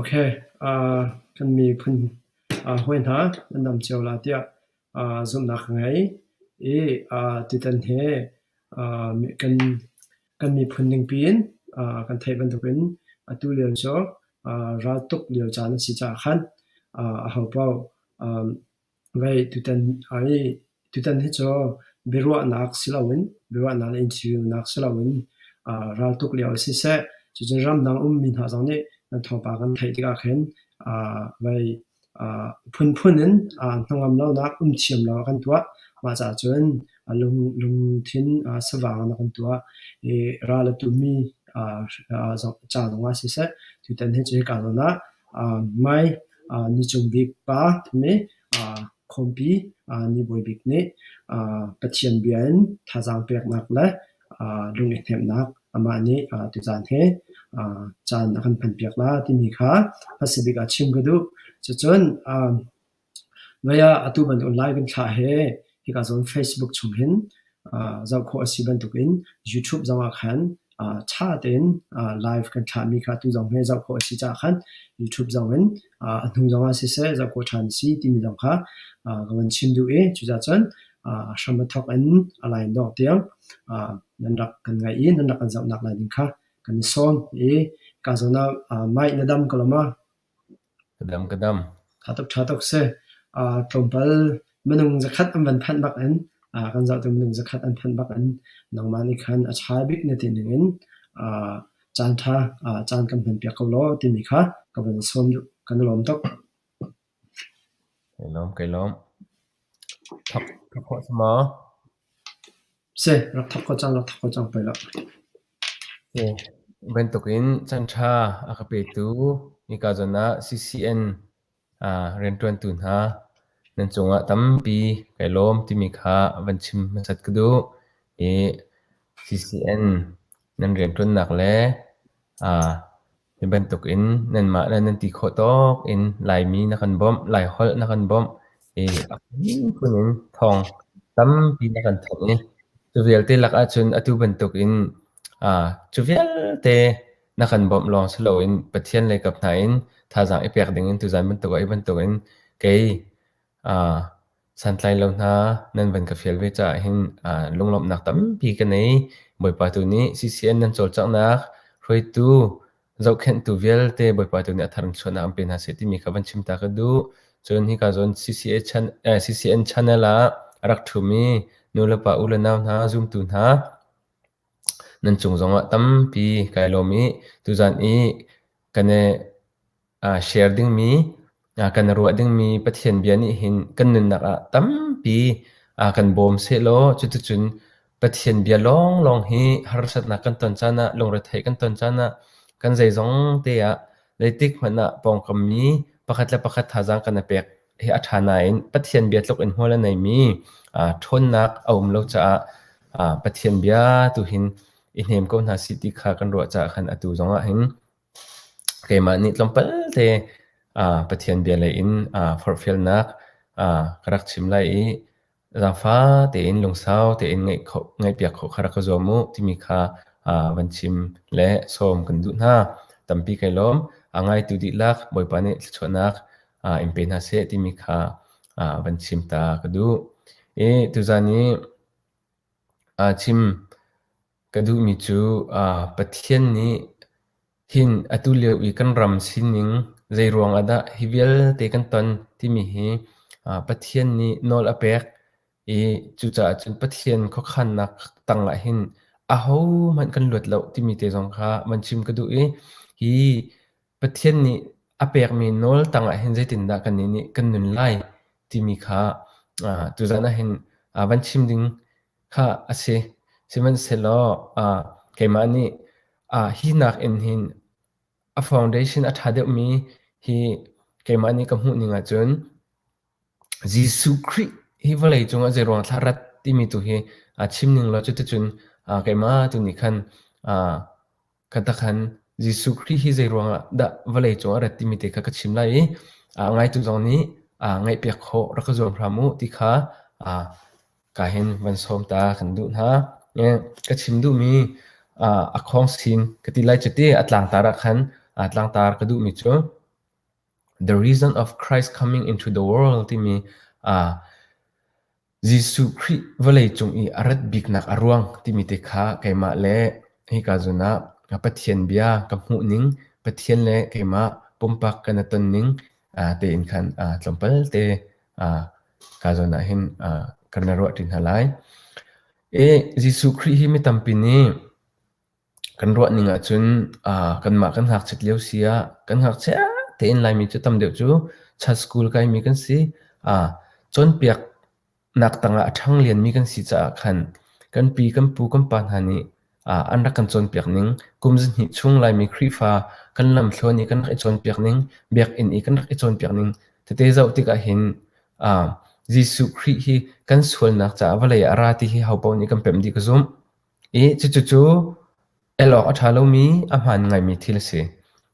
Ok, kan miphun hawi hna nan dam cio la tiah zumhnak ka ngei i tutan hi kan miphun ning piin kan theih bantukin atu lio cu raltuk lio caan a si caah khan ahopaoh Vei tutan ai tutan hi cu biaruahnak si loin biaruahnak le interview si loin aa raltuk lio ah siseh cucun ramdang ummi hna zong nih nan thawngpang kan theih tikah khin aa vei aa phunphun in aa hnangam lonak um thiam lo ah kan tuah mah caah cun a lungthin aa savang in a kan tuah i ral a tummi aa zong ca zongah siseh tutan hi cu hika zawn ah Hmai ni cung bik pa nih khuampi ni bawi bik nih Pathian bia in thazaang peknak le lung i hnemhnak amah nih tuzaan he caan a kan hmanpiak lai timi kha hmasabik ah chim ka duh. Cucun Mei ah atu bantuk live in thlah he hika zawn Facebook chung hin zoh khawh a si bantukin YouTube zongah khan ṭha tein live kan thlahmi kha atu zong he zoh khawh a si caah khan YouTube zongin a hnu zongah siseh zoh khawh ṭhan a si timi zong kha ka van chim duh i cucaahcun hram a thawk in a line dawh tiang nan rak kan ngaih i nan rak kan zohnak lai ding kha kan i sawm i ka zawn ah mic na dam ko lo ma? Aa tuk ṭha tuk si. Tlawmpal minung zakhat an van phanh bak in kan zoh tu minung zakhat an phanh bak in nangmah nih khan a ṭha bik na ti ning in caan ṭha caan kan hman piak ko law timi kha ka van i sawm duh. Kan i lawm tuk. Ka lawm. Ka lawm. Ka phuah cang maw? Seh, rak thok ko cang, rak thok ko cang pei lah. Bantukin canṭha a ka petu nika zawn ah CCN rianṭuantu hna nan cungah tampi kai lawm timi kha van chim hmasat ka duh. I CCN nan rianṭuannak le Hi bantukin nanmah le nan ti khawh tawk in Laimi na kan bawmh, Laiholh na kan bawmh i a phunphun in thawng tampi na kan thanh i cu vialte lakah cun atu bantukin aa cu vialte na kan bawmh lawng si loin Pathian le kap hna in thazaang i pek dingin tuzan bantuk ah hi bantukin kei aa Santlai lo hna, nan van ka fial ve caah hin ah lunglawmhnak tampi ka nei. Bawipa tu nih CCN nan cawlcanghnak hruaitu, zohkhenhtu vialte Bawipa tu nih a tharchuahnak an pe hna seh timi kha van chim ta ka duh. Cun hika zawn CCA channel, eh, CCN channel ah a rak ṭhumi nu le pa, u le nau hna, zumtu hna, nan cung zongah tampi kai lawm i tuzan i ka ne share dingmi, kan ruah dingmi Pathian bia nih hin kan nunnak ah tampi kan bawm sehlaw cuticun Pathian bia lawnglawng hi harsatnak kan ton caan ah, lungretheih kan ton caan ah, kan zeizongte ah zeitik hmanh ah pawngkammi pakhat le pakhat thazaang kan i pek hi a ṭha nain Pathian bia tluk in hmual a neimi ṭhawnnak a um lo caah Pathian bia tu hin i hnem ko hna sih ti kha kan ruah caah khan atu zongah hin Keimah nih tlawmpal te Pathian bia lei in forhfialnak ka rak chim lai i zaangfa tein lungsau tein ngaihpiak khawh kha rak ka zuam u timi kha van chim le sawm kan duh hna. Tampi kai lawm. Ngaitu dihlak Bawipa nih thluachuahnak in pe hna seh timi kha van chim ta ka duh. I tuzan i chim Ka duhmi cu Pathian nih hin atu lio i kan ram sining zeiruang ah dah hi vialte kan ton timi hi Pathian nih nawl a pek i cucaah cun Pathian khuakhannak tangah hin ahohmanh kan luat lo timi te zong kha van chim ka duh i hi Pathian nih a pekmi nawl tangah hin zeitindah kannih nih kan nun lai timi kha tuzan ah hin van chim ding Khah a si. Sihmanhsehlaw ah keimah nih ah hi nakin hin a foundation a ṭha deuhmi hi keimah nih ka hmuhning ahcun Jesuh Khrih hi vawlei cungah zeiruang ah thlah a rat timi tu hi aa chim ning law cuticun aa keimah tu nih khan aa Ka takhan, Jesuh Khrih hi zeiruangah dah vawlei cung a rat timi te kha ka chim lai i ah, ngaitu zong nih ah, ngaihpiak khawh rak ka zuam hram u ti kha ah, ka hin van sawm ta kan duh hna. Eh, ka chim duhmi ah, a khawng sin ka ti lai cite a tlangtar ah khan ah, tlangtar ka duhmi cu The Reason of Christ Coming into the World timi ah, Jesuh Khrih vawleicung i a rat biknak a ruang timi te kha keimah le hika zun ah Pathian bia ka hmuhning, Pathian le keimah pumpak kan i tonning tein khan tlawmpal te ka zun ah hin kan i ruah ṭi hna lai. Jesuh Khrih hi mi tampi nih Kan ruahning ahcun aa kanmah kan ngakchiat lio si ah kan ngakchia tein Laimi cu tam deuh cu chan school kaimi kan si. Aa cawnpiaknak tangah a ṭhanglianmi kan si caah khan kan pi, kan pu, kan pa hna nih aa an rak kan cawnpiak ning, kum zihnih chung Laimi Khrihfa kan lamthluan i kan rak i cawnpiak ning, biakinn i kan rak i cawnpiak ning. Tete zoh tikah hin aa Jesuh Khrih hi kan sualnak caah vawlei ah a ra ti hi hopaoh nih kan pemh dih ka zumh. I cucu elawk a ṭha lomi, a hmaan ngaimi thil a si.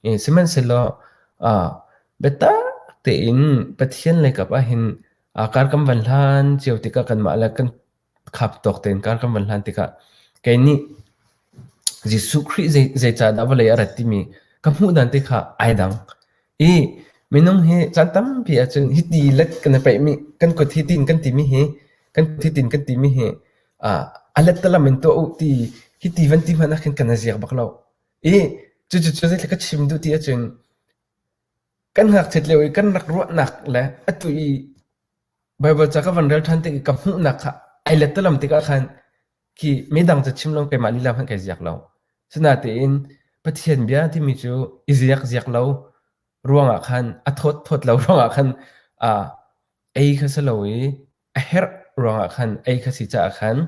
I sihmanhsehlaw ah biatak tein Pathian lei kap ahhin aa kar kan van hlan cio tikah kanmah le kan khap tawk tein kar kan van hlan tikah kei nih Jesuh Khrih zei zeicahdah vawlei a rat timi ka hmuh dan te kha ai dang. I minung hi caan tampi ahcun hiti let kan i peihmi, kan kuat hi tiin kan timi hi, kan thi tiin kan timi hi a lettalam in tuah u ti hiti van ti hmanh ahkhin kan na ziak bak lo i cucu zeitluk ka chim duh ti ahcun kan ngakchiat lio i kan rak ruahnak le atu i Bible ca ka van rel ṭhan tik i ka hmuhnak kha ai lettalam tikah khan khi midang ca chim lo keimah lila hmanh kai ziak lo sinatein Pathian bia timi cu i ziak ziak lo ruangah khan a thawt thawt lo ruangah khan a ei kha si lo i A herh ruangah khan ei kha si caah khan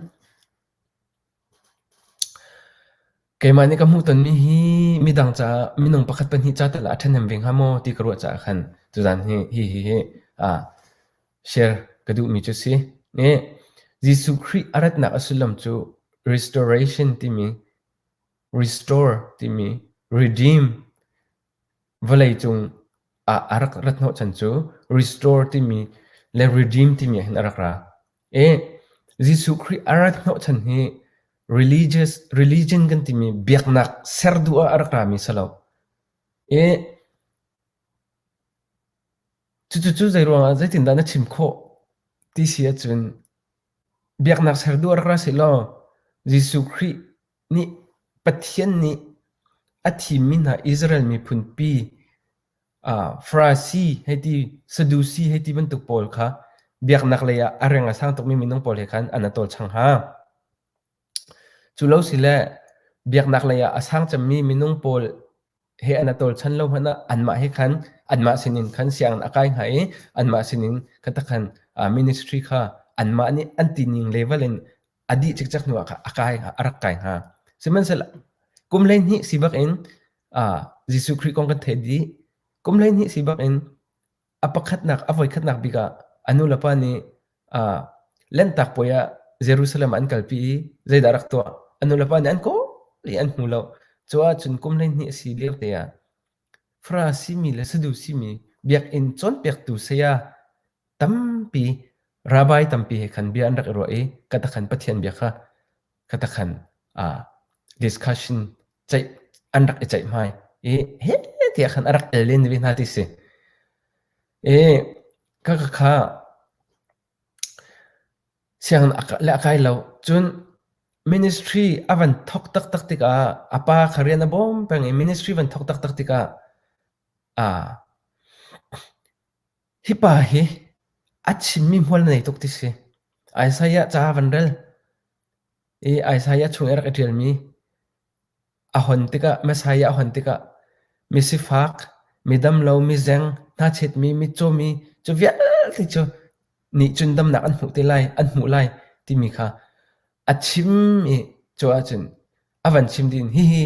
keimah nih ka hmuh tonmi hi midang caah minung pakhat pahnih ca tal ah a ṭhahnem ve hnga maw ti ka ruah caah khan tuzan hi hi hi hi a share ka duhmi cu si. E, Jesuh Khrih a ratnak a sullam cu restoration timi restore timi redeem Vawleicung ah a rak ra hnawhchan cu restore timi le redeem timi ahhin a rak ra. E, Jesuh Khrih a ra hnawhchan hi religious, religion kan timi biaknak ser duh ah a rak rami si lo. E, cucucu zeiruangah zeitindah na chim khawh ti si ahcun biaknak ser duh a rak ra si law Jesuh Khrih nih Pathian nih a thimmi hna Israel miphunpi Farasi hei ti Sadusi hei ti bantuk pawl kha biaknak lei ah a reng a sang tukmi minung pawl he khan an a tawlchang hna. Cu lo si le biaknak lei ah a sang cemmi minung pawl he an tawlchan lo hmanh ah anmah he khan anmah sinin khan sianginn a kai hnga i anmah sinin kha takhan ministry kha anmah nih an tining level in a dih cikcek hnuah kha a kai hnga a rak kai hnga sihmanhsehlaw kum hleihnih si bak in Jesuh Khrih kong kan theih dih kum hleihnih si bak in A pakhatnak a voikhatnak bik ah a nulepa nih ah Lanhtak puai ah Jerusalem ah an kalpi i zeidah a rak tuah? A nulepa nih an kawl i an hmu lo. Cu ahcun kum hleihnih a si liote ah Farasi mi le Sadusi mi biakinn cawnpiaktu saya tampi, rabbi tampi he khan bia an rak i ruah i ka khan Pathian bia kha katakhan ah discussion ceih an rak i ceih hmai i he tiah khan a rak el len ve hna ti si i ka ka kha siang le a kai lo cun ministry a van thok taktak tikah a pa kha rian a bawm peng i ministry van thok taktak tikah a Hi pa hi a chimmi hmual na nei tuk ti si. Isaiah ca van rel i Isaiah chung i rak i ṭialmi a hon tikah Messiah a hon tikah misifak, midam lo, mizeng, hnachetmi, mitcaumi cu vialte cu nih cun damnak an hmuh te lai, an hmuh lai timi kha a chim i cu ahcun a van chim ding hihi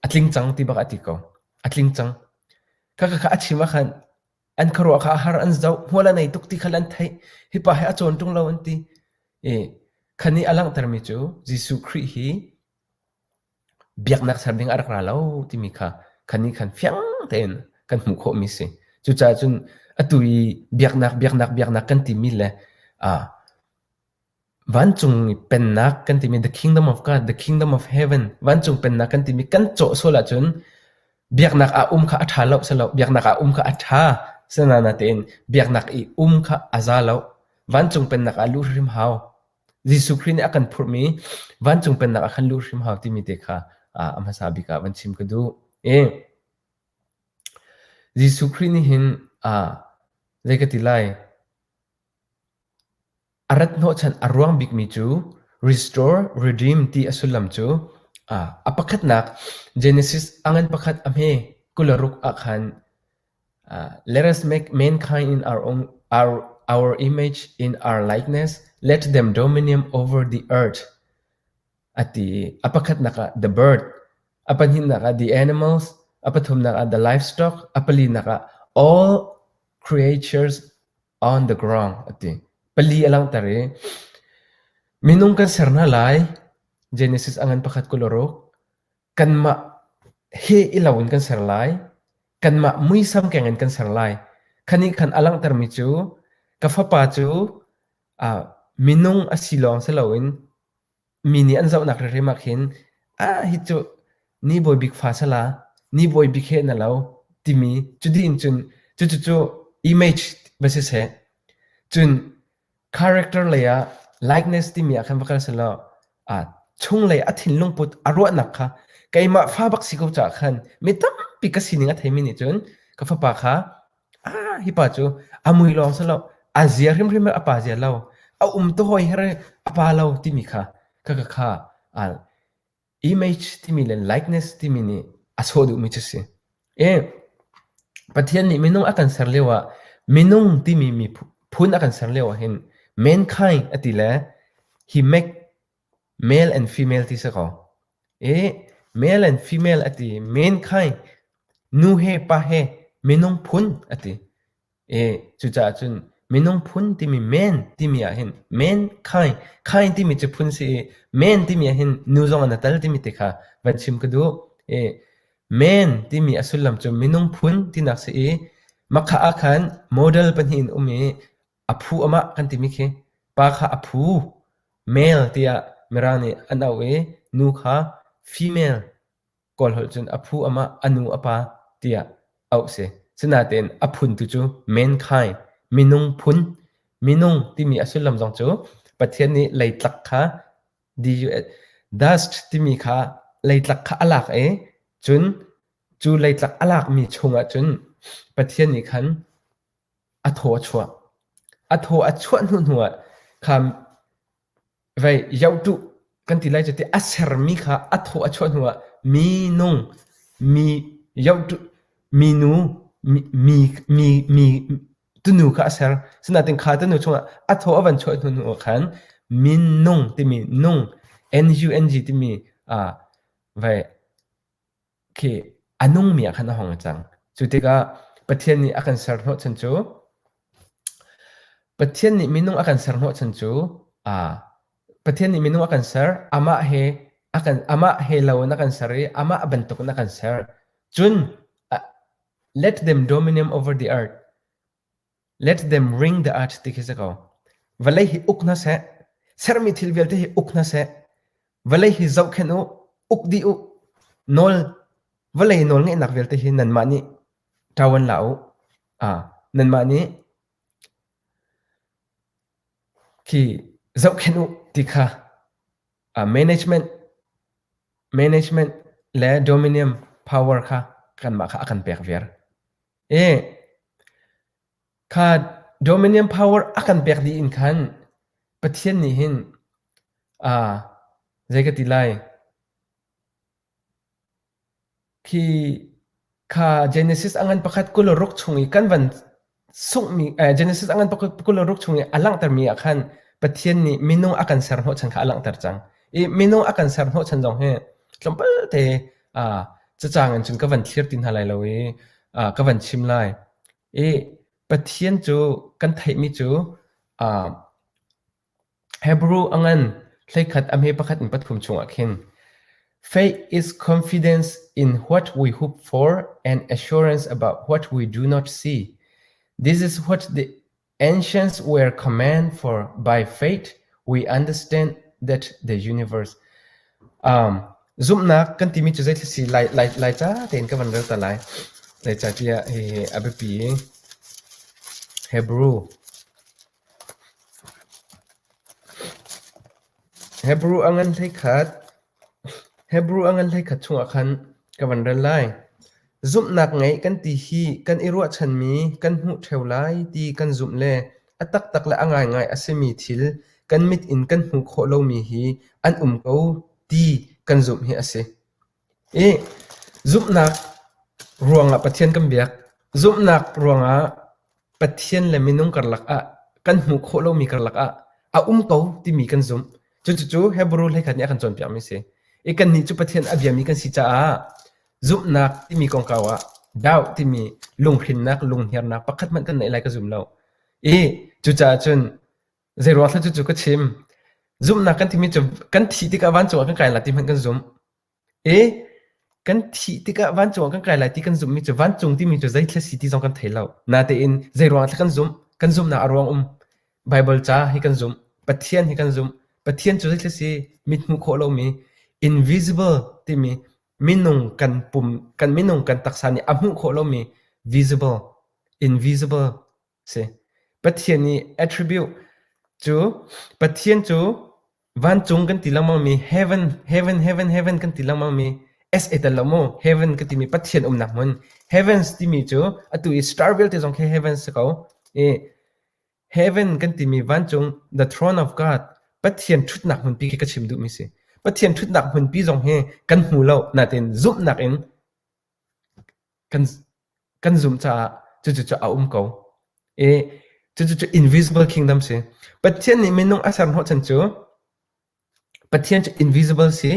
a tling cang ti bak a ti ko a tling cang kaka kha a chim a khan an kharuah kha har an zoh hmual a nei tuk ti khal an theih hipa he a cawn ṭung lo an ti i khani a langhtermi cu Jesuh Khrih hi biaknak ser ding a rak ra lo timi kha khani khan fiang tein kan hmuh khawhmi si cucaah cun atu i biaknak biaknak biaknak kan timi le a Vancung i Pennak kan timi The Kingdom of God, The Kingdom of Heaven, vancung pennak kan timi kan cawh sual ahcun biaknak ah um kha a ṭha lo silo, biaknak ah um kha a ṭha sinana tein biaknak i um kha a za lo. Vancung pennak ah luh hrim hau. Jesuh Khrih nih a kan phurhmi vancung pennak ah khan luh hrim hau timi te kha a hmasa bik ah van chim ka duh. E, Jesuh Khrih nih hin aa zei ka ti lai? A rat hnawhchanh a ruang bikmi cu restore, redeem ti a sullam cu a pakhatnak Genesis a ngan pakhat a hme kularuk ah khan let us make mankind in our own our our image in our likeness let them dominion over the earth a ti a pakhatnak ah the bird a pahnihnak ah the animals a pathumnak ah the livestock a palinak ah all creatures on the ground a ti. Pali a langhter i minung kan ser hna lai Genesis angan pakhat kul ruk kanmah he ilo in kan ser lai kanmah muisam keng in kan ser lai khani khan alanghter mi cu ka fapa cu uh, minung a si lawng si loin Mi nih an zohnak hrimhrim ah khin, "Ah, hi cu ni bawi bik fa sala, ni bawi bik he na lo," timi cudin cun cucu image va si seh. Cun character lei ah likeness timi ah khan va kal selaw, aa chunglei a thinlungput a ruahnak kha keimah fa bak si ko caah khan mi tampi ka sining a theimi nih cun ka fapa kha Hi pa cu a mui lawng si lo, a zia hrimhrim a pa zia lo, a um tu hawi her i a pa lo timi kha ka ka kha al. Image timi le likeness timi nih a sawh duhmi cu a si. E, Pathian nih minung a kan ser lio ah minung timi mi phun a kan ser lio ah hin mankind a ti le he make Male and female ti si kaw, i male and female a ti mankind, nu he pa he minung phun a ti. I cucaah cun minung phun timi man timi ah hin mankind, kind timi cu phun si i man timi ah hin nu zong an a tel timi ti kha van chim ka duh. I man timi a sullam cu minung phun tinak si i, mah kha ah khan model pahnih an um i, A phu a mah kan timi khi pa kha a phu male tiah mirang nih an auh i nu kha female kawl holh cun a phu a mah a nu a pa tiah auh si. Sinain a phun tu cu mankind minung phun minung timi a sullam zong cu Pathian nih leitlak kha dust timi kha leitlak kha a lak i cun cu leitlak a lakmi chungah cun Pathian nih khan A thaw a chuah. A thaw a chuah hnuhnu ah khan vei yoh tuh kan ti lai cu tiah a sermi kha a thaw a chuah hnuah minung, mi yoh tuh, minu, mi, mi, mi tunu kha a ser. Asinain kha tunu chungah a thaw a van chuah hnuhnu ah khan minung timi nung, N-U-N-G timi vei Khi a nungmi ah khan a hong cang. Cu tikah Pathian nih a kan serhnawh chan cu Pathian nih minung a kan serhnawh chan cu aa Pathian nih minung a kan ser, amah he a kan amah he loin a kan ser i amah bantukin a kan ser. Cun, a let them dominium over the earth. Let them wring the earth ti khi si ko. Vawlei hi uk hna seh. Sermi thil vialte hi uk hna seh. Vawlei hi zohkhenh u. Uk dih u. Nawl vawlei nawl ngeihnak vialte hi nanmah nih ṭawan la u. Ah, nanmah nih khi zohkhenh u ti kha ah management management le dominion power kha kanmah kha a kan pek viar. Kha dominion power a kan pek dih in khan Pathian nih hin zei ka ti lai? Khi kha Genesis angan pakhat kul ruk chung i kan van sunghmi Genesis angan kul ruk chung i a langhtermi ah khan Pathian nih minung a kan ser hnawh chan kha a langhter cang. I minung a kan ser hnawh chan zong hi tlawmpalte ah cacang in cun ka van thlir ti hna lai lo i ah ka van chim lai i Pathian cu kan theihmi cu ah Hebrew a ngan hleikhat a hme pakhat in pathum chungah khin faith is confidence in what we hope for and assurance about what we do not see this is what the Ancients were command for by fate we understand that the universe. Um, zumhnak kan timi cu zeithil si lai lai lai ca tein ka van rel ta lai. Lai ca tiah hi hi a biapi. Hebrew. Hebrew a ngan hlei khat Hebru a ngan hleikhat chungah khan ka van rel lai. Zumhnak ngeih kan ti hi kan i ruahchanmi kan hmuh ṭheo lai ti kan zumh le a taktak le a ngaingai a simi thil kan mit in kan hmuh khawh lomi hi an um ko ti kan zumh hi a si. I zumhnak ruangah Pathian kan biak. Zumhnak ruangah Pathian le minung karlak ah kan hmuh khawh lomi karlak ah a um ko timi kan zumh. Cucucu Hebrew hleikhat nih a kan cawnpiakmi a si. I kannih cu Pathian a biami kan si caah zumhnak timi kongkau ah doubt timi lunghrinnak, lunghniarnak pakhat hmanh kan neih lai ka zum lo. I cucaah cun zeiruang thla cucu ka chim. Zumhnak kan timi cu kan thih tikah vancung ah kan kai lai ti hmanh kan zumh. Ee, kan thih tikah vancung ah kan kai lai ti kan zumhmi cu vancung timi cu zeithil a si ti zong kan thei lo. Natein zeiruangah dah kan zumh? Kan zumhnak a ruang um. Baibal ca hi kan zumh. Pathian hi kan zumh. Pathian cu zeithil a si? Mit hmuh khawh lomi, invisible timi minung kan pum, kan minung kan taksa nih a hmuh khawh lomi, visible, invisible si. Pathian i attribute cu Pathian cu vancung kan ti lengmang mi heaven heaven heaven heaven kan ti lengmang mi s e tel lo mu heaven ka timi Pathian umnak hmun heavens timi cu atu i star vialte zong khi heaven si ko i heaven kan timi vancung the throne of God Pathian ṭhutnak hmunpi khi ka chim duhmi si Pathian ṭhutnak hmunpi zong hi kan hmu lo natin zumhnak in kan zumh caah cucu a um ko. I cucu invisible kingdom si. Pathian nih minung a ser hnawhchan cu Pathian cu invisible si.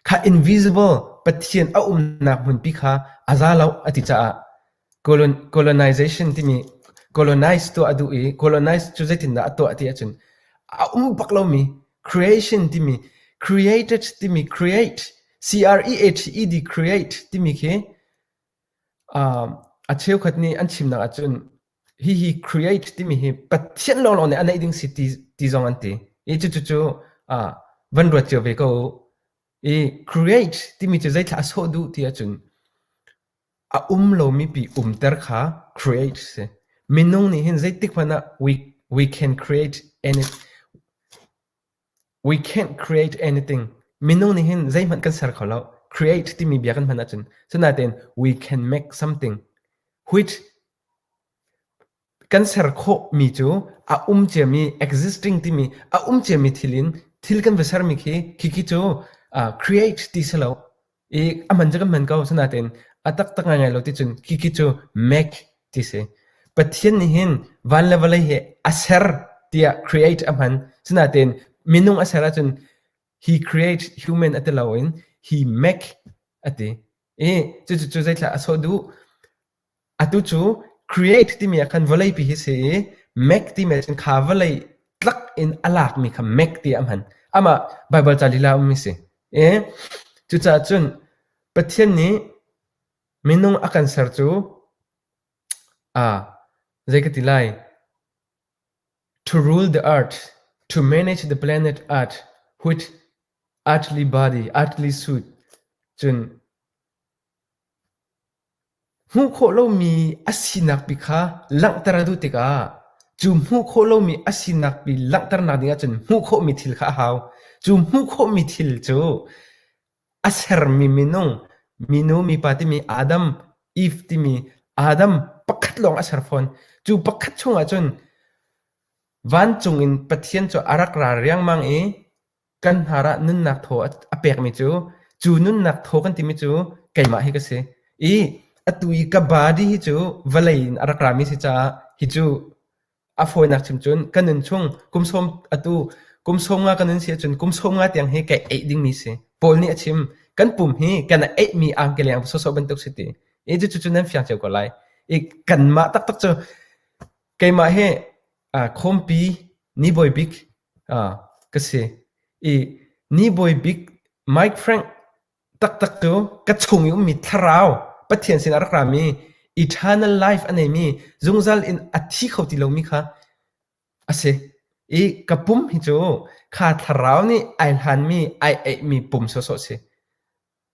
Kha invisible Pathian a umnak hmunpi kha a za lo a ti caah colonization timi colonize tu a duh i colonize cu zeitindah a tuah ti ahcun a um bak lomi creation timi created timi create CREHED create timi khi a cheukhat nih an chimnak ahcun hihi create timi hi Pathian lawnlawn nih a neih ding si ti zong an ti i cucu van ruat cio ve ko u. I create timi cu zeitllah a sawh duh ti ahcun a um lomi pi umter kha create si. Minung nih hin zeitik hmanh ah we can create any We can't create anything. Minung nih hin zeihmanh kan ser kho lo. Create timi bia kan hman ahcun, asinain we can make something. Which kan ser khawhmi cu a um ciami, existing timi, a um ciami thil in thil kan va sermi khi, khi cu create ti si lo. I a hman cu kan hman ko. Asinain a taktak ngaingai lo ti cun khi khi cu make ti si. Pathian nih hin van le vawlei hi a ser tiah create a hman. Asinain minung a ser ahcun he create human a ti lo in he make a ti. I cucu cu zeitlah a sawh duh? Atu cu create timi ah khan vawleipi hi a si i make timi ah cun kha vawlei tlak in a lakmi kha make tiah a hman. Amah Baibal ca lila a ummi a si. E, cucaah cun Pathian nih minung a kan ser cu aa zei ka ti lai to rule the earth, to manage the planet earth with earthly body, earthly suit cun Hmuh khawh lomi a sinak pi kha langhter a duh tikah cu hmuh khawh lomi a sinak pi langhternak dingah cun hmuh khawhmi thil kha a hau. Cu hmuh khawhmi thil cu a sermi minung, minu, mipa timi Adam, Eve timi Adam pakhat lawng a ser fawn. Cu pakhat chungah cun vancung in Pathian cu a rak ra riangmang i Kan hnar ah nunnak thaw a pekmi cu, cu nunnak thaw kan timi cu keimah hi ka si. I atu i ka body hi cu vawlei in a rak rami a si caah hi cu a fawinak chim cun ka nun chung kum sawm atu kum sawm nga ka nun si ahcun kum sawm nga tiang hi ka eih dingmi si. Paul nih a chim, kan pum hi kan eihmi angkeleng sawsawh bantuk si ti. I cucu nan fiang cio ko lai. I kanmah taktak cu keimah hi khawmpi, ni bawibik, ka si. I ni bawi bik Mike Frank taktak cu ka chung i ummi thlarau Pathian sinah rak rami eternal life a neimi zungzal in a thi kho ti lomi kha a si. I ka pum hi cu kha thlarau nih ai hlanmi, ai eihmi pum sawsawh a si.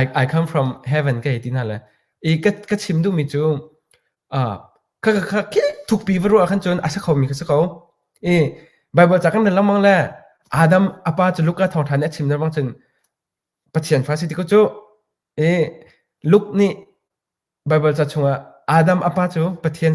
I I come from heaven ka hei ti hna le i ka ka chim duhmi cu ah kha kha kha kik thukpi va ruah ahkhan cun a si khomi kha si ko i Baibal ca kan rel lengmang le Adam a pa cu Luka thawngṭha nih a chim lengmang cun Pathian fa a si ti ko cu i Luke nih Baibal ca chungah Adam a pa cu Pathian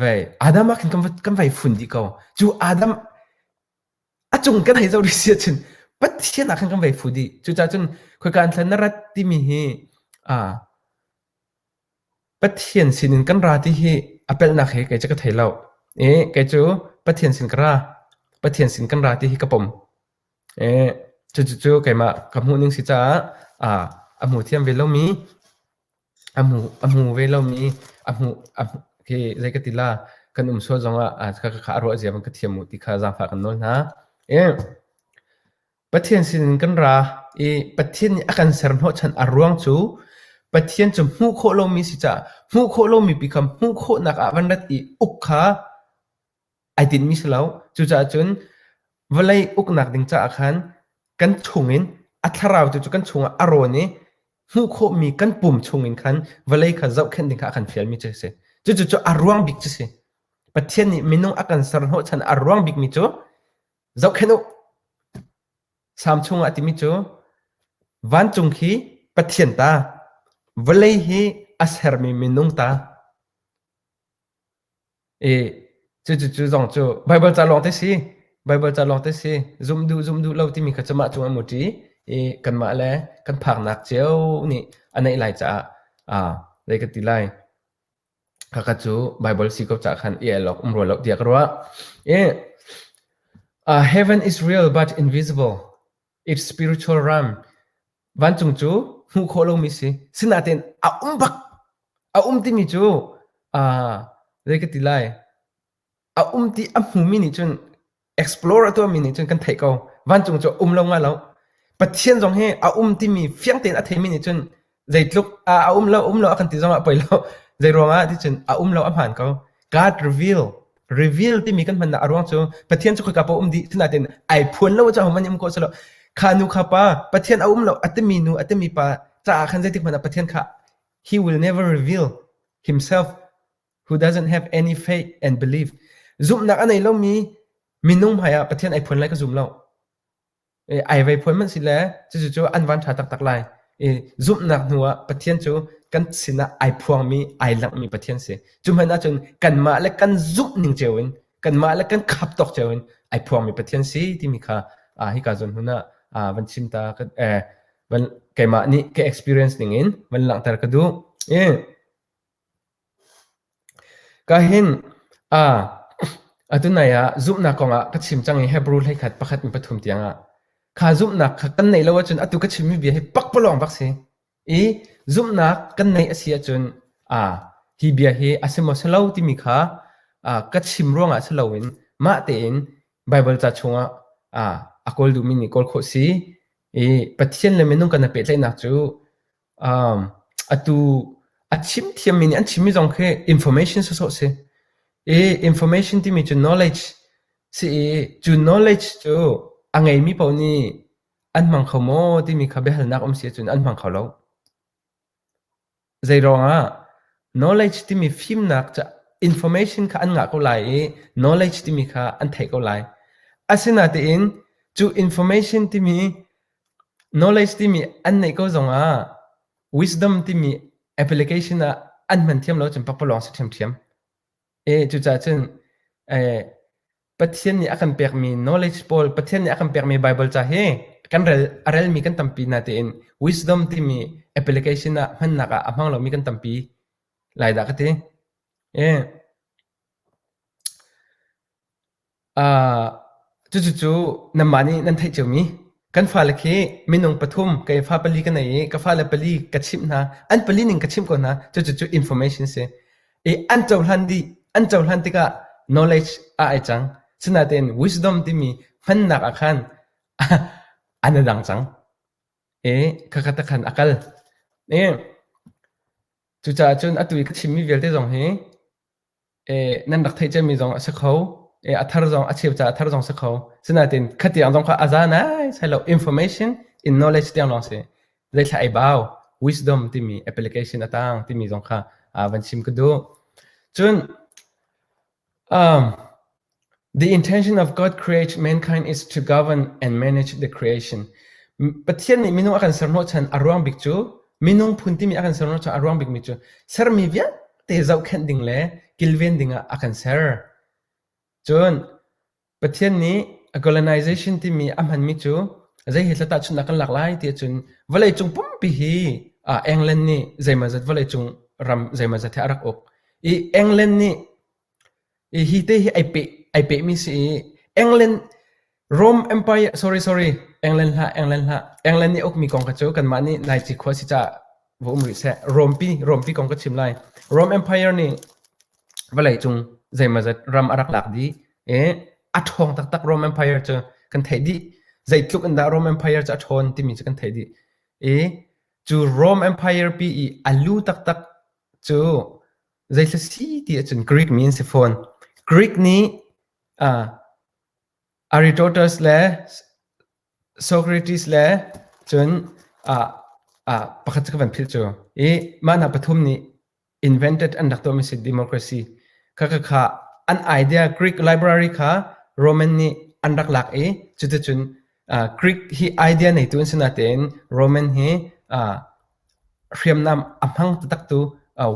Vei, Adam ah khin kan va, kan vai fun dih ko. Cu Adam, a cung kan hei zoh rih sia cun, Pathian ah khan kan vai fu dih. Cucaah cun, khoika an thlan na rat timi hi, aa, Pathian sinin kan ra ti hi, a pelhnak he kei cu ka thei lo. Ee, kei cu, Pathian sin ka ra. Pathian sin kan ra ti hi ka pom. Ee, cucu cu keimah ka hmuh ning si caah, aa, a hmu thiam ve lomi, A hmu ve lomi a hmuh khi zei ka ti la kan um sual zongah a ruah ziam ka thiam u ti kha zaangfah kan nawl hna. Pathian sinin kan ra i Pathian nih a kan ser hnawhchan a ruang cu Pathian cu hmuh khawh lomi si caah hmuh khawh lomi pi kha hmuh khawhnak ah van rat i uk kha ai tinmi si lo. Cucaah cun vawlei uknak ding caah khan kan chungin a thlarautu cu kan chungah a rawn i hmuh khawhmi kan pum chungin khan vawlei kha zohkhenh ding kha a kan fialmi cu a si. Cucu a ruang bik cu si. Pathian nih minung a kan ser hnawhchan a ruang bikmi cu zohkhenh u. Salm chungah a timi cu vancung hi Pathian ta, vawlei hi a sermi minung ta. I cucu zong cu Baibal ca lawng te si, Baibal ca lawng te si, zumh duh zumh duh lo timi kha cumah cung a mut i i kanmah le kan phaknak cio nih a neih lai caah, aa zei ka ti lai, khakha cu Baibal si ko ca'h khan i el awk um rua lo tiah ka ruah. I, "Heaven is real but invisible" It's spiritual realm. Vancung cu hmuh khawh lomi si. Sinain a um bak. A um timi cu uh, zei ka ti lai. A um ti a hmumi nih cun explore a tuahmi nih cun kan theih ko. Vancung cu um lo nga lo. Pathian zong hi a um timi fiang tein a theimi nih cun zeitluk ah a um lo um lo a kan ti zongah poi lo zeiruangah ticun a um lo a hmaan ko God reveal reveal timi kan hmannak a ruang cu Pathian cu khoika pa um dih tunatin ai phuan lo ca hom im ko selo kha nu kha pa Pathian a um lo atimi nu atimi pa ca khan zeitik hmana Pathian kha he will never reveal himself who doesn't have any faith and belief zumnak anei lomi minung hmaiah Pathian ai phuan lai ka zum lo ai vei phuan man si le cucu an van ṭha taktak lai. I zumhnak hnu ah Pathian cu kan sinah ai phuangmi, ai langhmi Pathian si. Cu hmanh ahcun kanmah le kan zumh ning cio in, kanmah le kan khap tawk cio in ai phuangmi Pathian si timi kha ah hika zon hmun ah ah van chim ta ka eh van keimah nih ka experience ning in van langhter ka duh. I Ka hinh, aa, atu nai ah zumhnak kongah ka chim cang i Hebru hleikhat pakhat ni pathum tiangah kha zumhnak kha kan neih lo ahcun atu ka chimmi bia hi pakpalawng bak si. I zumhnak kan neih a si ahcun aa, hi bia hi a si maw si lo timi kha aa, ka chim ruangah si loin mah tein Baibal ca chungah aa, a kawl duhmi nih kawl khawh si. I Pathian le minung kan i pehtlaihnak cu Atu a chim thiammi nih an chimmi zong khi information sawsawh a si. I information timi cu knowledge si i cu knowledge cu a ngeimi paoh nih an hmang kho maw timi kha biahalnak um si ahcun an hmang kho lo. Zeiruangah knowledge timi fimnak cu information kha an ngah ko lai i knowledge timi kha an theih ko lai. Asinain cu information timi Knowledge timi an neih ko zongah wisdom timi application ah an hman thiam lo cun pakpalawng si ṭhiamṭhiam. E cucaah cun eh, Pathian nih a kan pekmi knowledge pawl, Pathian nih a kan pekmi Bible ca hi kan rel, a relmi kan tampi hna tein wisdom timi application ah hmannak ah a hmang lomi kan tampi lai dah ka ti. E Cucu nanmah nih nan theih ciomi kan fale khi minung pathum ka i fa pali ka nei i ka fale pali ka chimh hna an pali ning ka chimh ko hna cucu information si i an cohlan dih an cohlan tikah knowledge a ai cang sinain wisdom timi hmannak ah khan an a dang cang i khakhat ah khan a kal i cucaah cun atu i ka chimmi vialte zong hi eh, nan rak theih cemmi zong a si kho. Eh, a thar zong, a cheu ca a thar zong si kho. Sinain khatiang zong kha a za nai sai lo information in knowledge tiang lawng si. Zeithla ei bau wisdom timi application atang timi zong kha ah van chim ka du. Cun um, The intention of God created mankind is to govern and manage the creation. Pathian nih minung a kan ser hnawh chan a ruang bik cu minung phun timi a kan ser hnawh chan a ruang bik mi cu sermi vialte zohkhenh ding le kilven ding ah a kan ser. Cun Pathian nih a colonization timi a hman mi cu zei he tlatah chun kan lak lai ti cun vawlei cung pumpi hi England nih zeimazat vawlei cung ram zeimazat he a rak uk. I England nih Hi te hi ai pehmi si i England hlah, England nih a ukmi kong kha cu kanmah nih Naici khua si caah va um rih seh. Rompi kong ka chim lai. Rome Empire nih vawleicung zeimawzat ram a rak lak dih i a ṭhawng taktak Rome Empire cu kan theih dih. Zeitluk in dah Rome Empire cu a ṭhawn timi cu kan theih dih. I cu Rome Empire pi i a lu taktak cu Zeithla si ti ahcun Greek mi an si fawn. Greek nih uh, Aristotle le Socrates le cun uh, uh, pakhat cu ka van philh cu i mah hna pathum nih invented an rak tuahmi si democracy kha kha kha an idea Greek library kha Roman nih an rak lak i cuticun uh, Greek hi idea neitu an si natein Roman hi uh, hriamnam a hmang taktak tu au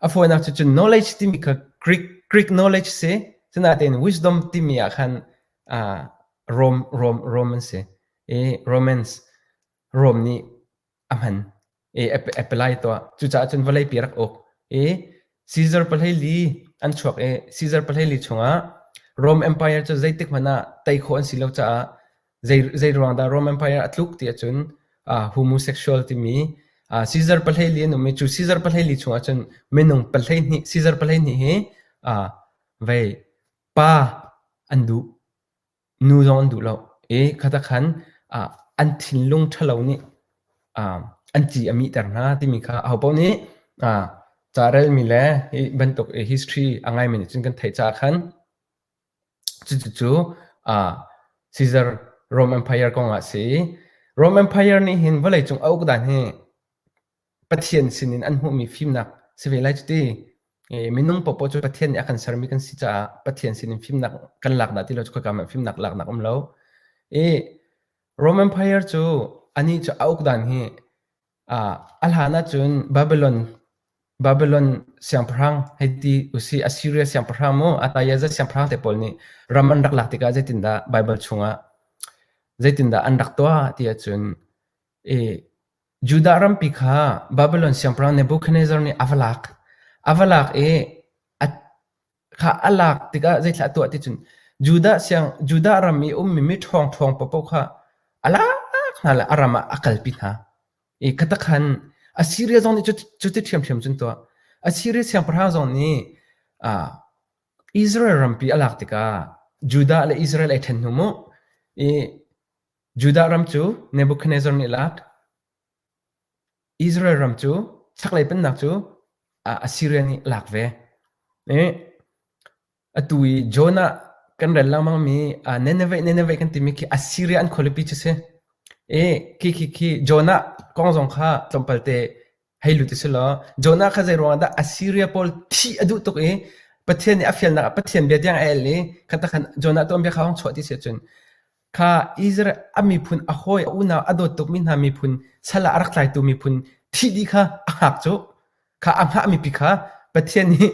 a fawinak cu cun knowledge timi kha greek greek knowledge si sinain wisdom timi ah khan uh, Rome Rome Roman si i Romans Rome nih a hman i apelai to cucaah cun vawlei pi rak uk i Caesar paleili an chuak i Caesar paleili chungah Rome Empire cu zeitik hmanh ah tei khawh an si lo caah Zeiruang dah Roman Empire a tluk ti ahcun homosexual timi Caesar pahleili an um i cu Caesar pahleili chung ahcun minung pahleihnih Caesar pahleihnih hi vei pa an duh, nu zong an duh lo i khatak khan an thinlung ṭhalo nih an ci a mihter hna timi kha ahopaoh nih carelmi le hi bantuk history a ngaimi nih cun kan theih caah khan Cucu Caesar Roman Empire kong ah a si i Roman Empire nih hin vawleicung a uk dan hi Pathian sin in an hmuhmi fimnak si ve lai cuti. Minung popoh cu Pathian nih a kan sermi kan si caah Pathian sin in fimnak kan lak dah ti lo cu khoika hmanh fimnak laknak a um lo. I Roman Empire cu anih cu a uk dan hi Ah, a hlan ahcun Babylon Babylon siangpahrang hei ti usih, Assyria siangpahrang maw, Athayaza siangpahrang te pawl nih ram an rak lak tikah zeitindah Baibal chungah zeitindah an rak tuah ti ahcun i Judah rampi kha Babylon siangpahrang Nebuchadnezzar nih a va lak. A va lak i a kha a lak tikah zeithlah a tuah ti cun Judah siang Judah ram i ummi mi ṭhawngṭhawng paohpaoh kha a lak hna le a ram ah a kalpi hna i khatakhan Assiria zong nih cuti ṭhiamṭhiam cun tuah Assiria siangpahrang zong nih Israel rampi a lak tikah Judah le Israel ei ṭhen hnu mu i Judah ram cu Nebuchadnezzar nih lak Israel ram cu chaklei pennak cu Assiria nih a lak ve. I atu i Jonah kan rel lengmangmi Nineveh, Nineveh kan timi khi Assiria an khualipi cu si. I khi khi khi Jonah kong zong kha tlawmpalte hei lut u si law Jonah kha zeiruangah dah Assiria pawl thih a duh tuk i Pathian nih a fialnak ah Pathian bia tiang a el i khatakhan Jonah tuanbia kha hong chuah ti si ahcun Kha Israel a miphun a hawi a unau a dawt tukmi hna miphun sal ah a rak tlaitu miphun thih dih kha a hngak cu. Kha a hngahmi pi kha Pathian nih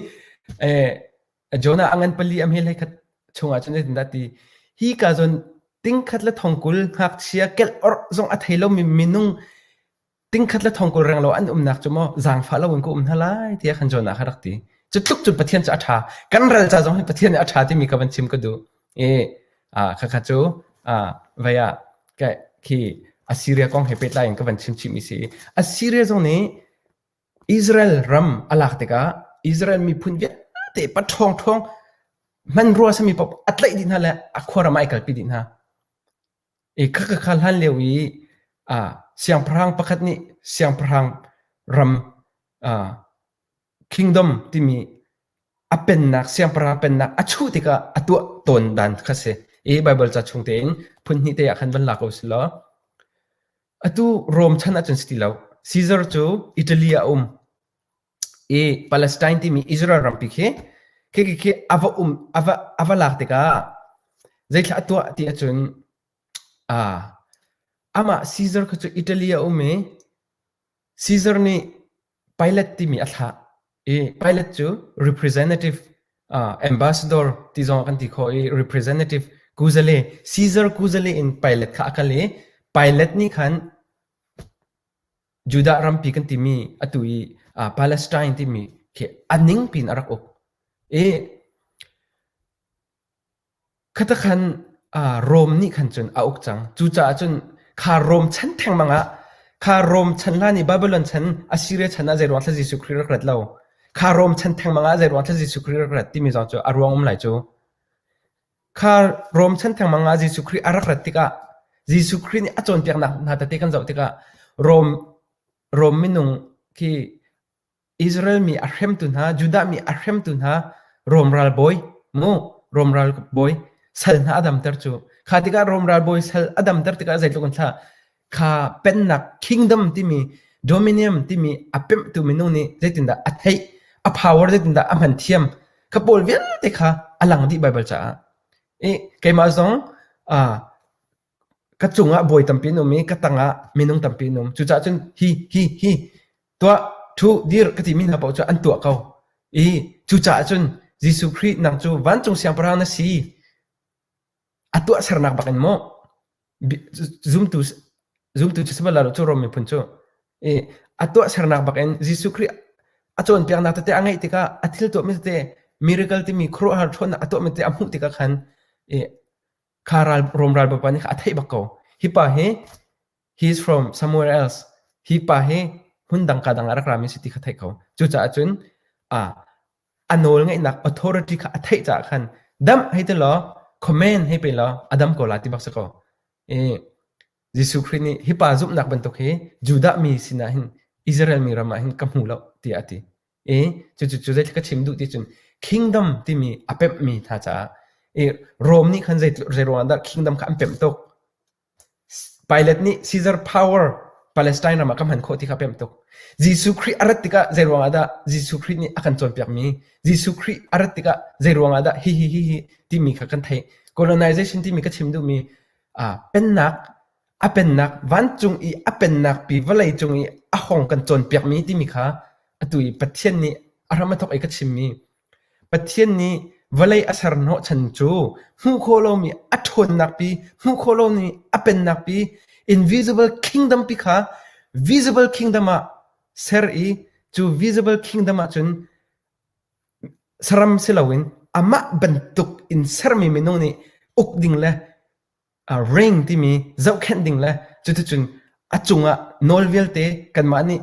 Jonah a ngan pali a hmel hei khat chungah cun zeitindah ti hi ka zon tingkhat le thong kul ngakchia kelh orh zong a thei lomi minung Tingkhat le thong kul reng lo an umnak cu maw zaangfah loin ka um hna lai tiah khan Jonah kha rak ti. Cu tluk cun Pathian cu a ṭha. Kan ral ca zong hi Pathian nih a ṭha timi ka van chim ka duh. I aa khakha cu aa vei ah ka khi Assiria kong he pehtlai in ka van chim chihmi si. Assiria zong nih Israel ram a lak tikah Israel miphun vialte paṭhawng ṭhawng hmanrua sami paoh a tlaih dih hna le a khua ram ah ai kalpi dih hna. I khaka kha hlan lio i siangpahrang pakhat nih siangpahrang ram kingdom timi a pennak siangpahrang pennak a chuh tikah a tuah tawn dan kha si. I Baibal ca chung tein phun hnih te ah khan van la ko si law atu Rom chan ahcun si ti lo. Caesar cu Italy ah a um. i Palestine timi Israel rampi khi khi a va um a va a va lak tikah zeithlah a tuah ti ahcun aa amah Caesar kha cu Italy a um i Caesar nih Pilate timi a thlah i Pilate cu representative uh, ambassador ti zong kan ti khawh i representative kuzale Caesar kuzale in Pilate kha a kal i Pilate nih khan Judah rampi kan timi atu i uh, Palestine timi khi a ning pin a rak uk i khata khan uh, Rome nih khan cun a uk cang cucaah cun kha Rome chan thengmang ah kha Rome chan la ni Babylon chan Assyria chan ah zeiruang thla Jesuh Christ rak rat lo kha Rome chan thengmang ah zeiruang thla Jesuh Christ rak rat timi zong cu a ruang um lai cu Kha romchan thengmang ah Jesuh Khrih a rak rat tikah Jesuh Khrih nih a cawnpiaknak hna tete kan zoh tikah Rom Rom minung khi Israel mi a hremtu hna Judah mi a hremtu hna Rom ralbawi mu Rom ralbawi sal hna a damter cu kha tikah Rom ralbawi sal a damter tikah zeitluk in hlah kha pennak kingdom timi dominium timi a pemhtu minung nih zeitindah a theih a power zeitindah a hman thiam kha pawl vialte kha a lang dih Baibal caah i keimah zong ka cungah bawi tampi an um i ka tangah minung tampi an um cucaah cun hi hi hi tuah thu dir ka timi hna paoh cu an tuah ko i cucaah cun Jesuh Khrih nang cu vancung siangpahrang na si A tuahsernak bak in maw zumtu cu sihmanhsehlaw cu Rom miphun cu a tuahsernak bak in Jesuh Khrih a cawnpiaknak tete a ngeih tikah a thil tuahmi tete miracle timi khuaruahhar ṭhawnnak a tuahmi tete a hmuh tikah khan kha Rom ralbapa nih kha a theih bak ko. Hi pa hi he is from somewhere else. Hi pa hi hmun dang ka dang ah rak rami si ti kha theih ko. Cucaah cun a nawlngeihnak authority kha a theih caah khan dam hei ti law comment hei pe law a dam ko la ti bak si ko i Jesuh Khrih nih hi pa zumhnak bantuk hi Judah mi sinah hin Israel mi ram ah hin ka hmu lo tiah a ti i cucu cu zeitluk ka chim duh ti cun kingdom timi a pemhmi hna caah i Rom nih khan zei zei ruangah dah kingdom kha an pemh tuk Pilat nih Caesar power Palestine ram ah kan hman khawh ti kha a pemh tuk. Jesuh Khrih a rat tikah zeiruang ah dah Jesuh Khrih nih a kan cawnpiakmi, Jesuh Khrih a rat tikah zeiruang ah dah hihi hihi timi kha kan theih. Colonization timi ka chim duhmi aa pennak, a pennak, vancung i a pennak pi vawlei cung i a hawng kan cawnpiakmi timi kha atu i Pathian nih a ram a thawk i ka chimmi Pathian nih vawlei a ser hnawhchan cu hmuh khawh lomi a ṭhawnnak pi, hmuh khawh lomi a pennak pi, invisible kingdom pi kha visible kingdom ah ser i cu visible kingdom ahcun saram si loin amah bantuk in sermi minung nih uk ding le A ring timi zohkhenh ding le cuticun a cungah nawl vialte kanmah nih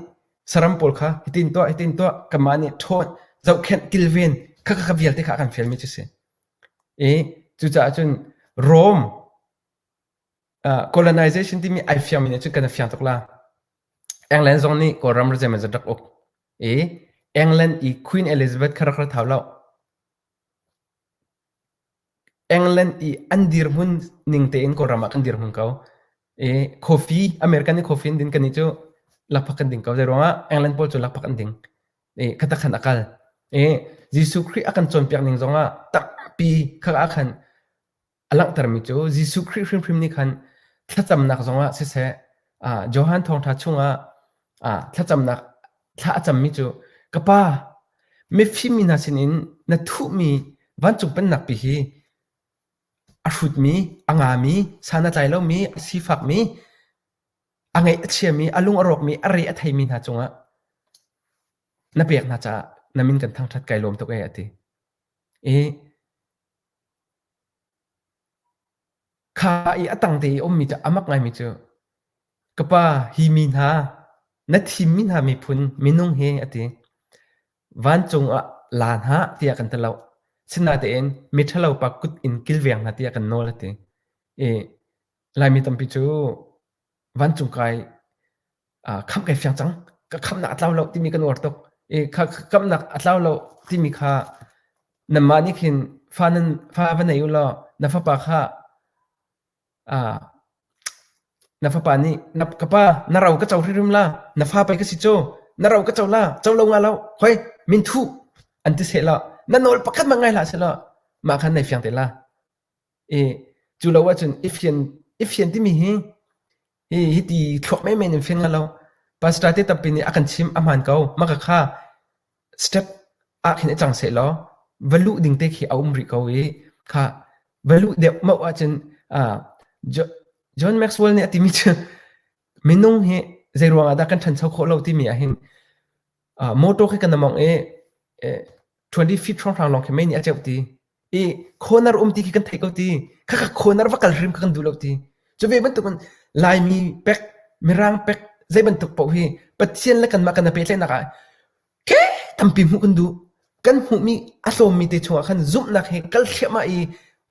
saram pawl kha hitin tuah, hitin tuah, kanmah nih ṭhawn, zohkhenh, kilven, kha kha vialte kha a kan fialmi cu a si. I cucaah cun Rome uh, colonization timi ai fiangmi nih cun kan a fiang tuk la. England zong nih Kawlram ra zeimah zat rak uk. I England i Queen Elizabeth kha rak ra thau lo. England i an dirhmun ning tein Kawlram ah kan dirhmun ko. I coffee, American i coffee in din kan i cu lakphak kan ding ko. Zeiruangah England pawl cu lakphak an ding. I khatak khan a kal. I Jesuh Khrih a kan cawnpiak ning zongah takpi khak ah khan A langhtermi cu Jesuh Khrih hrimhrim nih khan thlacamnak zongah siseh, ah Johan Thawngṭha chungah, ah thlacamnak thla a cammi cu, “Ka Pa, mifim mi hna sinin na thuhmi vancung pennak pi hi a hrutmi, a ngami, sa na tlai lomi, sifakmi, a ngaih a chiami, a lung a rawkmi, a re a theimi hna cungah na pek hna caah na min kan thangṭhat kai lawm tuk e, a ti. I Kha i a tangte i a ummi cu a mak ngaimi cu, ka pa, hi mi hna, na thimmi hna miphun minung hi, a ti. Vancung ah la hna tiah kan ti lo. Sinatein miṭhalopa kut in kilveng hna tiah kan nawl, a ti. I Laimi tampi cu vancung kai ah khamh kai fiang cang. Ka khamhnak a tlau lo timi kan uar tuk i kha kamhnak a tlau lo timi kha nanmah nih khin fa nan fa va nei u law na fapa kha ah na fapa nih na ka pa na ro ka co hririm la na fa pei ka si cu na ro ka co la co lo nga lo hoi min thuh an ti seh law na nawl pakhat mah ngai hlah seh law mah khan nai fiang te la Eh, cu lo ahcun ifian ifian timi hi hi hi ti thluak menmen in fing lo pastor te tampi nih a kan chim a hmaan ko maka kha step ah khin i cang seh law valuh ding te khi a um rih ko i kha valuh deuh mau ahcun ah John Maxwell nih a timi cu minung hi zei ruangah dah kan ṭhancho khawh lo timi ah hin Uh, motor khi kan among e eh, 20 feet hrawnghrang long khi mei nih a ceuh ti i corner um ti khi kan thei ko ti khaka corner va kal hrim kha kan du lo ti chu ve bantuk in laimi pek mirang pek zei bantuk po hi pathian le kanmah kan pe tle nak ah ke tampi mu kan du kan mu mi a hlom mi te chunga khan zumnak he kal thema i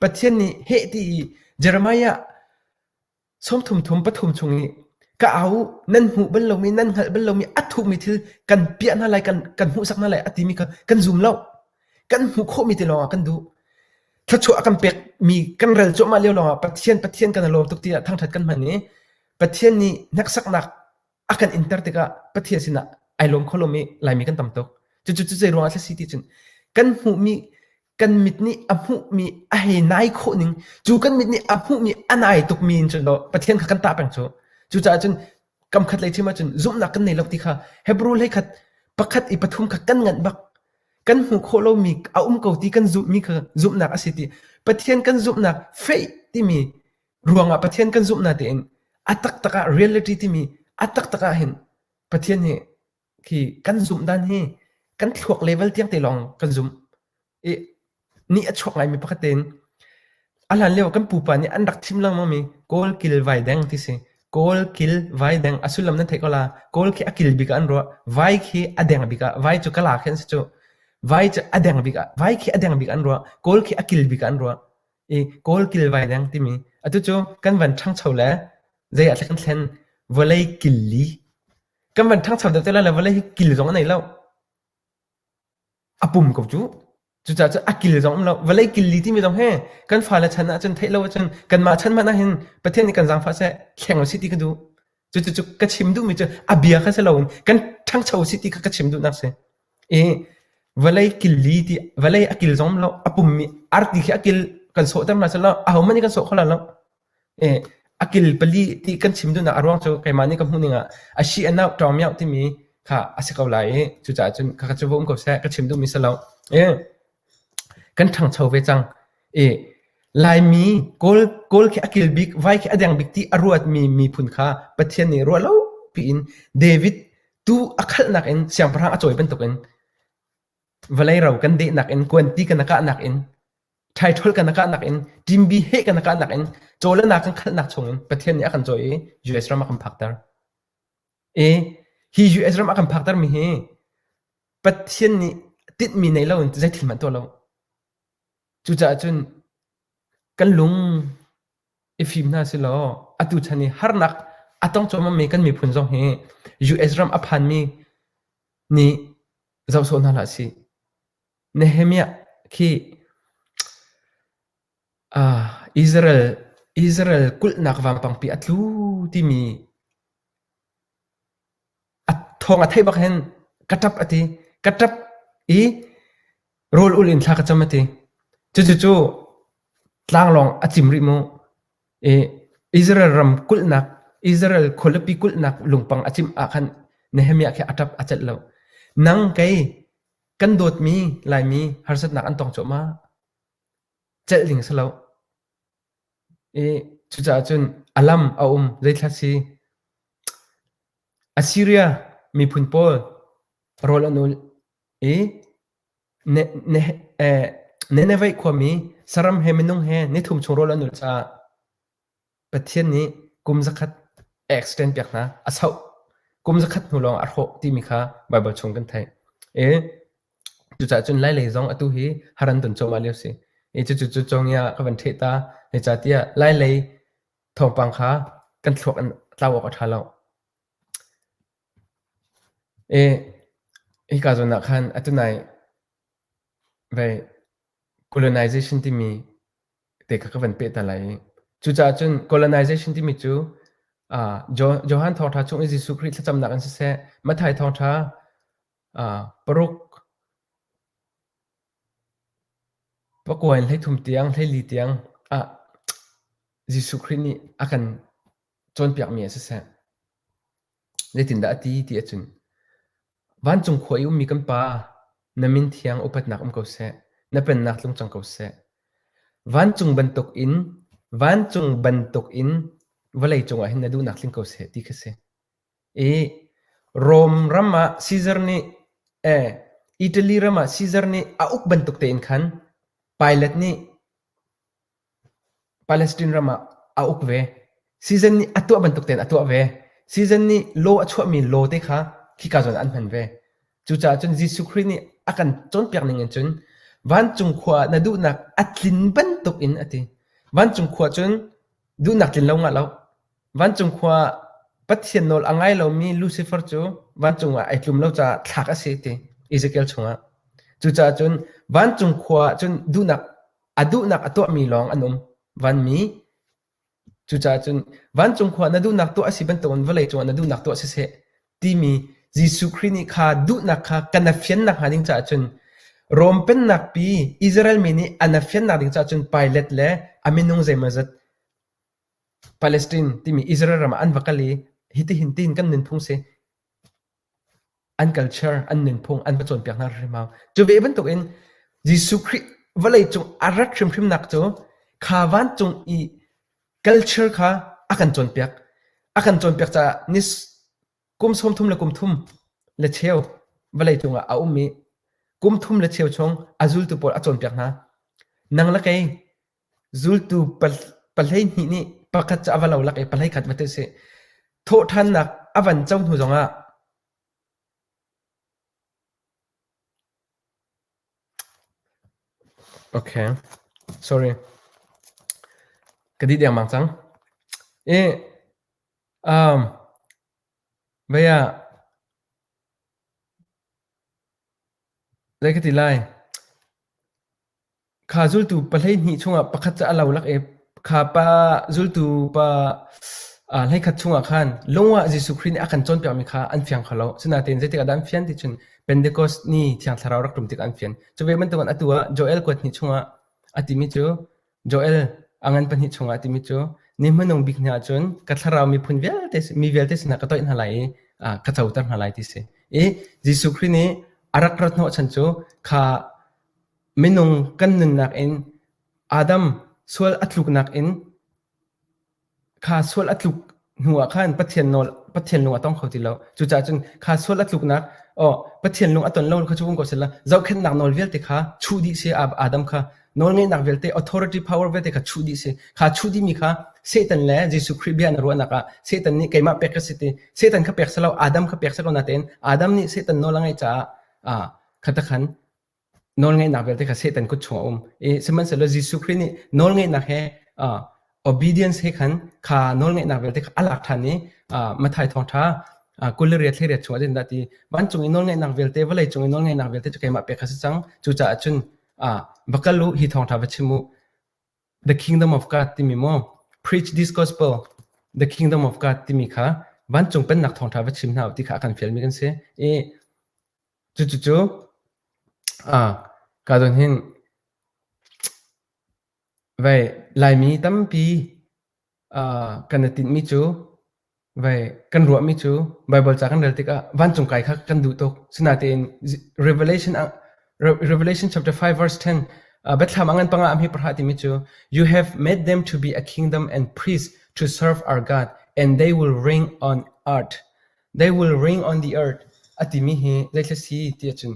pathian ni he ti i jeremiah Sawmthum thum pathum chung i ka au nan hmuh bal lomi nan hngalh bal lomi a thuhmi thil kan piah hna lai kan kan hmuhsak hna lai a timi kha kan zum lo kan hmuh khawhmi te lawngah kan duh thluachuah a kan pekmi kan rel cuahmah lio lawngah Pathian Pathian kan lawm tuk tiah thangṭhat kan hman i Pathian nih hneksaknak a kan inter tikah Pathian sinah ai lawm kho lomi Laimi kan tam tuk. Cucu cu zei ruangah a si ti cun kan hmuhmi kan mit nih a hmuhmi a hei nai khawh ning cu kan mit nih a hmuhmi a nai tukmi in cun law Pathian kha kan tah peng cu cucaah cun kam khat lei chim ahcun zumhnak kan nei lo ti kha Hebrew lei khat pakhat i pathum kha kan nganh bak kan hmuh khawh lomi a um ko ti kan zumhmi kha zumhnak a si ti Pathian kan zumhnak faith timi Ruangah Pathian kan zumh na tein a taktak ah reality timi a taktak ah hin Pathian hi khi kan zumh dan hi kan thluak level tiang te lawng kan zumh i ni a chuak ngaimi pakhat tein a hlan lio kan pupa nih an rak thim lengmang mi kawl kil vai deng ti si kawl kil vai deng a sullam nan theih ko la kawl khi a kil bik ah an ruah vai khi a deng bik ah vai cu kala khin si cu vai cu a deng bik ah vai khi a deng bik an ruah kawl khi a kil bik ah an ruah i kawl kilvai deng timi atu cu kan van ṭhangcho le zei ah kan thlen vawlei killi kan van ṭhangcho deuh te le vawlei hi kil zong a nei lo a pum ko cu cucaah cu a kil zong um lo vawlei killi timi zong he kan fale chan ahcun theih lo ahcun kanmah chan hmanh ahhin pathian nih kan zaangfah seh thleng u si ti ka duh Cucu ka chim duhmi cu a bia kha si loin kan ṭhangcho si ti kha ka chim duhnak si. I vawlei killi ti vawlei a kil zong lo a pummi arti khi a kil kan sawhter hna selaw ahohmanh nih kan sawh kho lo lo. I a kil pali ti kan chim duhnak a ruang cu keimah nih ka hmuhning ah a si a nauh ṭawng mioh timi kha a si ko lai i cucaah cun kha cu va um ko seh ka chim duhmi si lo. I kan ṭhangcho ve cang i Laimi Kawl Kawl khi a kil bik vai khi a deng bik ti a ruatmi miphun kha Pathian nih ruah lo piin David tuu a khalhnak in siangpahrang a cawi bantukin vawlei ro kan dehnak in kuanti kan kahnak in thaithol kan kahnak in ṭimbi he kan kahnak in caw le na kan khalhnak chungin Pathian nih a kan cawi i US ram a kan phakter. I hi US ram a kan phaktermi hi Pathian nih tinhmi nei loin zeithil hmanh tuah lo. Cucaah cun kan lung i fim hna silaw atu chan i harnak a tong cuahmahmi kan miphun zong hi US ram a phanmi nih zoh sawh hna hlah sih. Nehemiah khi Israel, Israel kulhnak vanpangpi a tlu timi a thawng a theih bak hin ka ṭap a ti. Ka ṭap i rawl ul in thla ka cam a ti. Cucucu tlanglawng a cim rih mu. I Israel ram kulhnak, Israel khualipi kulhnak lungpang a cimh ah khan Nehemiah khi a ṭap a celh lo. Nang kei kan dawtmi Laimi harsatnak an tong cuahmah. celh ding si lo. I cucaah cun a lam a um zeithla si Assyria miphun pawl rawl an ul i Ne- Ne- eh, Nineveh khuami saram he minung he nithum chung rawl an ul caah Pathian nih kum zakhat extend piak hna a sauh kum zakhat hnu lawng a hrawh timi kha Baibal chung kan theih. E cucaah cun lai lei zong atu hi haran don cawma lio si. E cucu cu congia ka van theh ta he ca tiah lai lei thawngpang kha kan thluak an tlau awk a tha lo. E hi ka zawn ah khan atunai vai colonization timi te kha ka van peh hna lai i cucaah cun colonization timi cu ah Johan Thawngṭha chung i Jesuh Khrih thlacamnak in siseh, Mathai Thawngṭha, ah paruk, pakua in hleithum tiang, hleili tiang ah Jesuh Khrih nih a kan cawnpiakmi ah siseh, Zeitindah a ti ti ahcun, vancung khua i ummi kan Pa, na min thiang upatnak um ko seh, na pennak tlung cang ko seh. Vancung bantukin vancung bantukin vawlei cungah hin na duhnak tling ko seh ti kha si. I Rom ram ah Caesar nih eh Italy ram ah Caesar nih a uk bantuk tein khan Pilate nih Palestine ram ah a uk ve. Season nih a tuah bantuk tein a tuah ve. Season nih law a chuahmi law te kha khika zawn ah an hman ve. Cucaah cun Jesuh Khrih nih a kan cawnpiak ning in cun vancung khua ah na duhnak a tlin bantuk in a ti. Vancung khua cun duhnak tlin lo ngah lo. Vancung khua ah Pathian nawl a ngai lomi Lucifer cu vancung ah ai tlum lo caah thlak a si ti Ezekiel chungah. Cucaah cun vancung khua ah cun duhnak A duhnak a tuahmi lawng an um. Vanmi, cucaah cun vancung khua na duhnak tuah a si bantukin vawlei cungah na duhnak tuah siseh timi Jesuh Khrih nih kha duhnak kha kan fiannak hnga ding caah cun Rom pennak pi Israel mi nih an fiannak ding caah cun Pilate le a minung zeimaw zat Palestine timi Israel ram ah an va kal i hitihin tiin kan nunphung si. an culture, an nunphung an va cawnpiak hna hrimhrim hau. Cu ve bantukin Jesuh Khrih vawlei cung a rat hrimhrimnak cu kha vancung i culture kha a kan cawnpiak. A kan cawnpiak caah ni kum sawmthum le kum thum le cheu vawlei cungah a um i kum thum le cheu chung a zultu pawl a cawnpiak hna. Nang le kei Zultu pahleihnih nih pakhat cu a va lolak i pahlei khat hmati u sih. Thawhṭhannak a van co hnu zongah Okay. Sorry. Ka dih dengmang cang. I um, vaya lai ka ti lai. Kha zultu pa hleihnih chungah pakhat cu a lo lak i kha pa zultu pa aa hleikhat chungah khan lungah Jesuh Khrih nih a kan cawnpiakmi kha an fiang kho lo. Asinain zeitikah dah an fian ti cun Pentekos ni Thiang Thlarau rak ṭum tikah an fian. Cu ve bantukin atu ah Joel kuat hnih chungah a timi cu Joel a ngan pahnih chungah a timi cu ni hmanung bik ni ah cun ka thlarau miphun vialte mi vialte sinah ka toih hna lai i aa ka coter hna lai ti a si. I Jesuh Khrih nih a rak rat hnawh chan cu kha Minung kan nunnak in Adam sual a tluknak in kha sual a tluk hnu ah khan Pathian nawl Pathian lung a tong kho ti lo. Cucaah cun kha sual a tluknak aw Pathian lung a ton lo kha cu vung ko sehla zohkhenhnak nawl vialte kha chuh dih si Ab- Adam kha nawlngeihnak vialte authority power vialte kha chuh dih si kha chuh dihmi kha Satan le Jesuh Khrih bia na ruahnak ah Satan nih keimah pek ka si ti Satan kha pek selo Adam kha pek selo natein Adam nih Satan nawl a ngeih caah aa khatakhan nawlngeihnak vialte kha Satan kut chungah a um. Sihmanhsehlaw Jesuh Khrih nih nawlngeihnak he uh, obedience he khan kha nawlngeihnak vialte kha a lak ṭhan i uh, Matthai thawngṭha uh, kul le riat thleiriat chungah din dah ti vancung i nawlngeihnak vialte vawlei cung i nawlngeihnak vialte cu keimah pek a si cang cucaah cun uh, va kal u hi thawngṭha va chim u the kingdom of God timi maw preach this gospel the kingdom of God timi kha vancung pennak thawngṭha va chim hna u ti kha a kan fialmi kan si i Cucu kadon hin Laimi tampi kan i tinhmi cu kan ruahmi cu Baibal ca kan rel tikah vancung kai kha kan duh tuk. Sinain Revelation chapter 5 verse 10 biathlam a ngan panga ah mi pahra timi cu You have made them to be a kingdom and priests to serve our God and they will ring on earth. They will ring on the earth a timi hi zeitluk si ti ahcun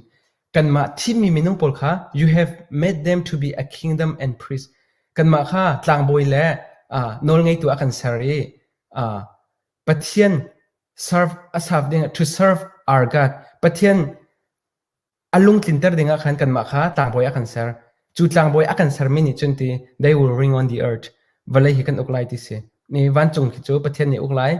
kanmah thimmi minung pawl kha you have made them to be a kingdom and priest kanmah kha tlangbawi le uh, nawlngeitu a kan ser i uh, Pathian serve a serve ding to serve our God Pathian a lung tlinter ding ah khan kanmah kha tlangbawi a kan ser. Cu tlangbawi a kan sermi nih cun ti they will ring on the earth vawlei hi kan uk lai ti si. Mi vancung khi cu Pathian nih uk lai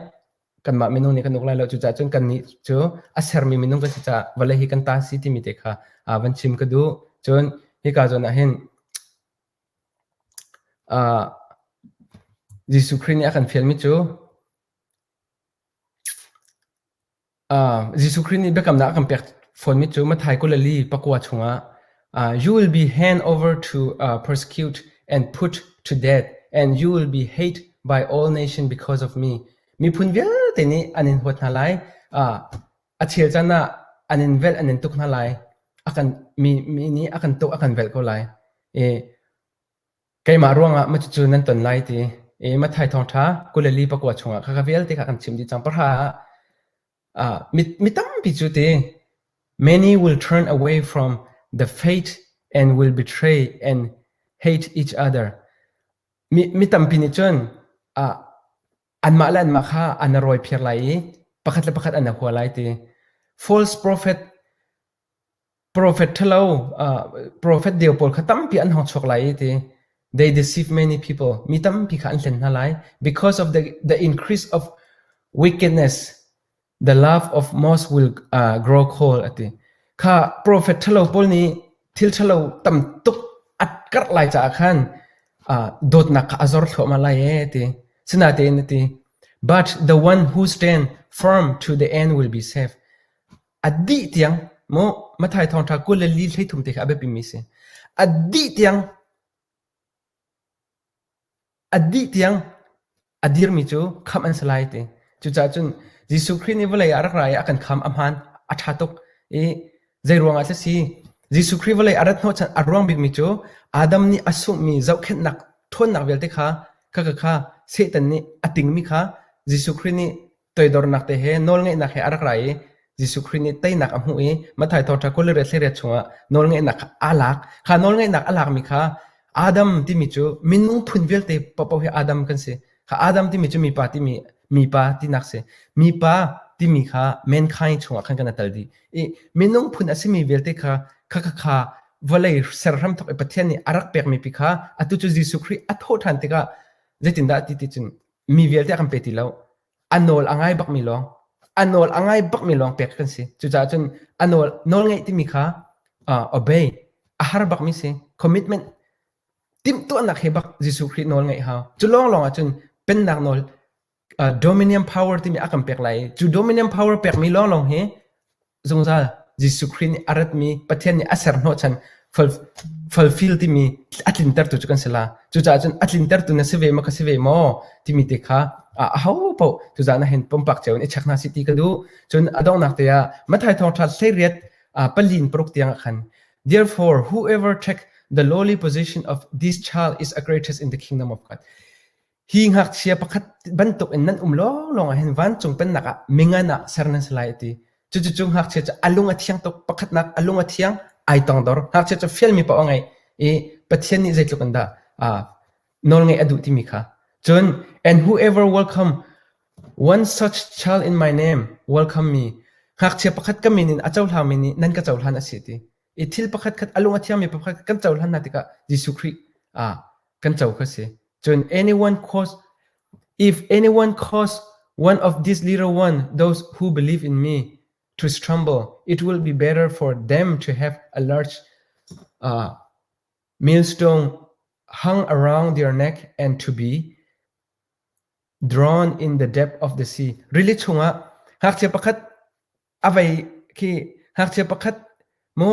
kanmah minung nih kan uk lai lo cucaah cun kan nih cu a sermi minung kan si caah vawlei hi kan ta si timi te kha uh, van chim ka duh cun hika zawn ah hin uh, Jesuh Khrih nih a kan fialmi cu Jesuh Khrih nih biakamnak a kan pek fawnmi cu Matthai Galilee pakua chungah “You will be hand over to persecute and put to death, and you will be hate by all nations because of me.” Miphun vialte nih an in huat hna lai. A chel can ah an in velh, an in tuk hna lai. Mi nih a kan tuk, a kan velh ko lai. Keimah ruangah cucu nan ton lai ti i Matthai Thawngṭha kul le li pakua chungah kha ka vialte kha kan chim dih cang. Pahra ah uh, mi, mi tampi cu ti many will turn away from the fate and will betray and hate each other. Mi, mi tampi nih cun uh, anmah le anmah kha an a rawi phiar lai i pakhat le pakhat an a hua lai ti. False prophet Profet ṭhalo, profet deu pawl kha tampi an hawng chuak lai i ti. They deceive many people. Mi tampi kha an hlen hna lai. Because of the, the increase of wickedness, the love of most will uh, grow cold ati. Kha profet ṭhalo pawl nih thil ṭhalo tam tuk at karh lai caah khan uh, dawtnak kha a zor thluahmah lai e ti. Sinatein ati. But the one who stand firm to the end will be saved. A dih tiang maw Matthai Thawngṭha kul le li hlei thum te kha a biapimi a si. A dih tiang a dih tiang a dirmi cu khamh an si lai ti. Cucaah cun Jesuh Khrih nih vawlei ah a rak ra i a kan khamh a hmaan a ṭha tuk i zei ruangah thlak si Jesuh Khrih vawlei a rat hnawhchan a ruang bikmi cu Adam nih a sunghmi zohkhenhnak ṭhawnnak vialte kha khakha kha Satan nih a tingmi kha Jesuh Khrih nih Toidornak te he nawlngeihnak he a rak ra i Jesuh Khrih nih teinak a hmuh i Matthai thawngṭha kul le riat hlei riat chungah nawlngeihnak kha aa lak. Kha nawlngeihnak a lakmi kha Adam timi cu minung phun vialte paohpaoh hi Adam kan si. Kha Adam timi cu mipa timi mipa tinak si. Mipa timi kha mankind chungah khan kan atal dih. I minung phun a simi vialte kha kha kha kha vawlei serhram thawk i Pathian nih a rak pekmi pi kha atu cu Jesuh Khrih a thawh ṭhan tikah zeitindah ti ti cun mi vialte kan pe ti lo a nawl a ngai bakmi lawng a nawl a ngai bakmi lawng pek kan si cucaah cun a nawl nawl ngeih timi kha uh, obey a har bakmi si commitment timhtuahnak he bak Jesuh Khrih nawl ngeih hau cu lawng lawng ah cun pennak nawl uh, dominion power timi a kan pek lai cu dominion power pekmi lawng lawng hi Zungzal Jesuh Khrih nih a ratmi Pathian nih a ser hnawhchan fulfill timi a tlintertu cu kan si la. Cucaah cun a tlintertu na si ve maw, ka si ve maw timi te kha ahopaoh cucaah na hen pumpak cio in i check hna sih ti ka duh. Cun a donghnak te ah Matthai thawngṭha hleriat palin paruk tiangah khan Therefore, whoever take the lowly position of this child is a greatest in the kingdom of God. Hi ngakchia pakhat bantuk in nan um lawnglawng ah hin vancung pennak ah mingan ah ser nan si lai a ti. Cucucu ngakchia cu a lung a thiang tuk. Pakhatnak a lung a thiang ai tongdor. Ngakchia cu fialmi poah a ngei i Pathian nih zeitluk in dah aa nawlngaih a duh timi kha. Cun, and whoever welcome one such child in my name, welcome me. Ngakchia pakhat ka min in a cohlangmi nih nan ka cohlan a si a ti. i thil pakhatkhat a lung a thiangmi pakhatkhat kan cohlan hna tikah Jesuh Khrih ah kan co kha si. Cun anyone cause if anyone cause one of these little one those who believe in me to stumble it will be better for them to have a large uh, millstone hung around their neck and to be drawn in the depth of the sea. Really chungah ngakchia pakhat A vei khi ngakchia pakhat mu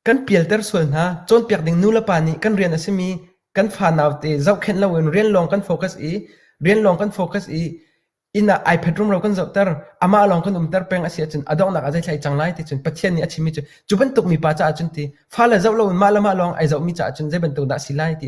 kan pialter sual hna cawnpiak ding nulepa nih kan rian a simi kan fa naute zohkhenh loin rian lawng kan focus i rian lawng kan focus i inn ah ai phet rumro kan zohter amah lawng kan umter peng a si ahcun a donghnak ah zeithlai cang lai ti cun Pathian nih a chimmi cu cu bantuk mipa caah cun ti fale zoh loin mah le mah lawng ai zohmi caah cun zei bantuk dah a si lai ti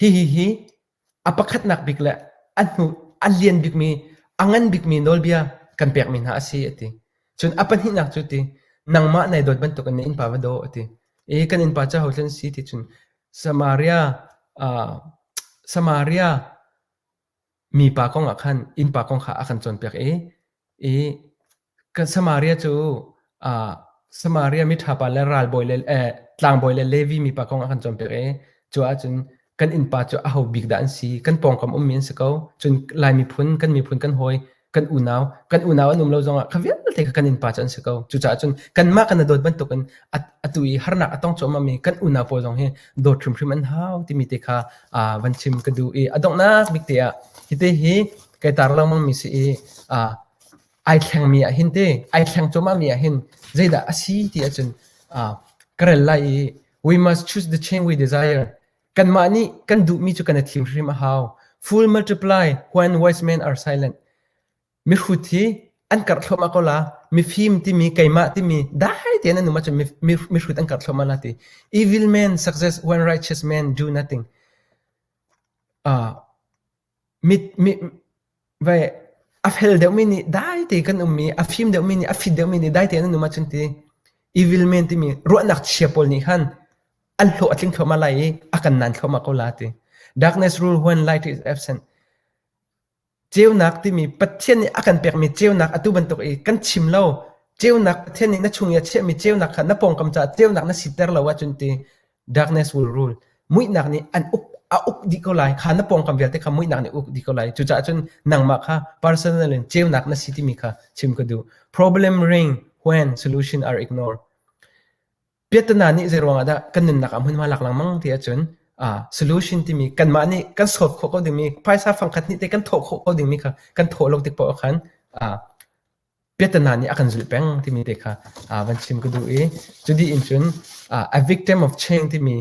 Hihihi a pakhatnak bik le a hnu a lian bikmi a ngan bikmi nawlbia kan pekmi hna a si a ti. Cun a pahnihnak cu ti nangmah nai dawt bantukin na innpa va daw a ti. I kan innpa cu hothlen si ti cun Samaria, ah Samaria Mipa kong ah khan innpa kong kha a kan cawnpiak i i kan Samaria cu ah Samaria miṭhapa le ralbawi le eh tlangbawi le Levi mipa kong a kan cawnpiak i cu ahcun kan innpa cu aho bik dah an si? Kan pawngkam ummi an si ko. Cun Lai miphun, kan miphun kan hawi kan unau kan unau an um lo zongah kha vialte kha kan innpa cu an si ko cucaah cun kanmah kan dawt bantukin atu i harnak a tong cuahmahmi kan unau pawl zong hi dawt hrimhrim an hau timi te kha van chim ka duh i a donghnak bik te ah hite hi kai tar lengmangmi si i ai thlengmi ah hin te ai thleng cuahmahmi ah hin zeidah a si ti ahcun ka rel lai i we must choose the chain we desire Kanmah nih kan duhmi cu kan i thim hrim a hau. Full multiply when wise men are silent. Mihrut hi an karh thluahmah ko la. Mifim timi, keimah timi, dai tein an um ahcun mihrut an karh thluahmah la ti. Evil men success when righteous men do nothing. Uh, A fel deuhmi nih daite kan um i a fim deuhmi nih a fit deuhmi nih daite nan um ahcun ti evil men timi ruahnak chia pawl nih khan an hlawh a tling thluahmah lai i a kan nan thluahmah ko la ti. Darkness rule when light is absent. Ceunak timi Pathian nih a kan pekmi ceunak atu bantuk i kan chim lo ceunak Pathian nih na chung i a chiahmi ceunak kha na pawngkam caah ceunak na siter lo ahcun ti darkness will rule muihnak nih an uk a uk dih ko lai kha na pawngkam vialte kha muihnak nih uk dih ko lai cucaah cun nangmah kha personal in ceunak na si timi kha chim ka duh problem ring when solution are ignored piatana nih zei ruangah dah kan nunnak ah hmunhma lak lengmang ti ahcun ah solution timi kanmah nih kan sawt khawh ko dingmi phaisa fangkhat nih te kan thawh khawh ko dingmi kha kan thawh lo tik poah khan ah piatana nih a kan zulh peng timi te kha uh, van chim ka duh i cu di in cun uh, a victim of change timi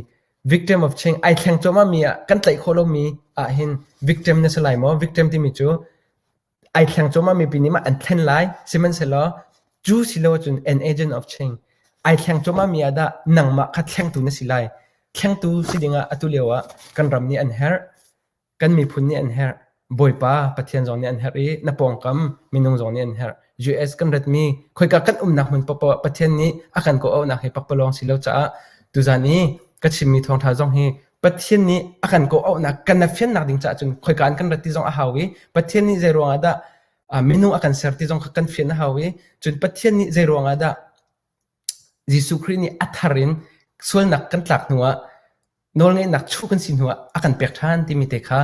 victim of change ai thleng cuma mi ah kan tlaih khawh lomi ah hin victim na si lai maw victim timi cu ai thleng cuma mi pi nih mah an thlen lai sihmanhsehlaw cu silo cun an agent of change ai thleng cuma mi ah dah nangmah kha thlengtu na si lai thlengtu si dingah atu lio ah kan ram nih an herh Kan miphun nih an herh. Bawipa Pathian zong nih an herh i na pawngkam minung zong nih an herh. US kan ratmi khoika kan umnak hmun paohpaoh ah Pathian nih a kan kawhauhnak hi pakpalawng si lo caah tuzan i ka chimmi thawngtha zong hi Pathian nih a kan kawhauhnak kan fiannak ding caah cun khoika an kan rat ti zong a hau i Pathian nih zei ruangah dah minung a kan ser ti zong kha kan fian a hau i cun Pathian nih zei ruangah dah Jesuh Khrih nih a thar in sualnak kan tlak hnuah nawlngeihnak chu kan si hnuah a kan pek ṭhan timi te kha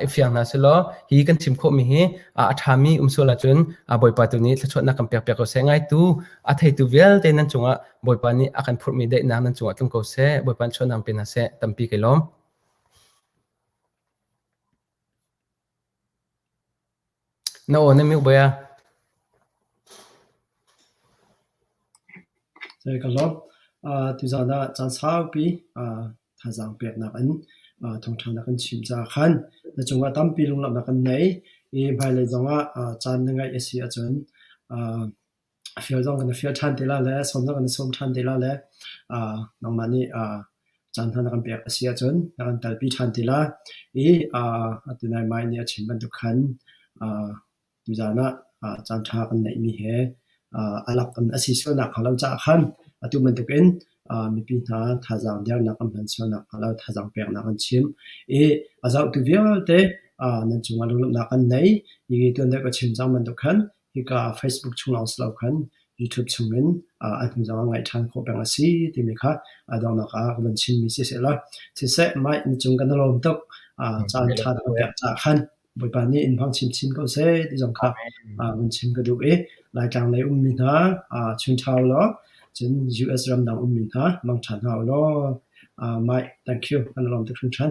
i fiang hna selaw hi kan chim khawhmi hi a ṭhami um sual ahcun Bawipa tu nih thluachuahnak kan pek piak ko seh, ngaitu a theitu vialte nan cungah Bawipa nih a kan phurhmi daihnak nan cungah tlung ko seh, Bawipa nih sualnak pe hna seh, tampi kai lawm. Na aw na miuk bal a? Ka hlawt. Tuzaan ah caan saupi thazaang peknak in thawngṭha na kan chim caah khan na cungah tampi lunglawmhnak kan ngei. I hmailei zongah caan na ngeih a si ahcun A fial zong kan i fial ṭhan te lai le sawmnak kan i sawm ṭhan te lai le aa nangmah nih aa caan hna na kan pek a si ahcun na kan telpi ṭhan te lai. I aa atu naimai nih a chim bantuk khan aa tuzaan ah aa caan ṭha kan neihmi he aa a lak in a si sualnak hnga lo caah khan atu bantuk in aa mipi hna thazaang dernak an hman sualnak hnga lo thazaang peknak an chim. I a zohtu vialte aa nan cungah lunglawmhnak an nei. Hi tuan deuh ka chim cang bantuk khan Hika Facebook chung lawng si lo khan YouTube chungin a hnu zongah ngaih ṭhan khawh peng a si timi kha donghnak ah ka van chimmi si sehlaw siseh mah ni cung kan i lawm tuk caan ṭha kan pek caah khan Bawipa nih in hmang chinchin ko seh ti zong kha van chim ka duh i Laitlang lei ummi hna chung ṭha ulaw cun US ram dang ummi hna mang ṭhan hna ulaw mah thank you kan i lawm tuk hringhran.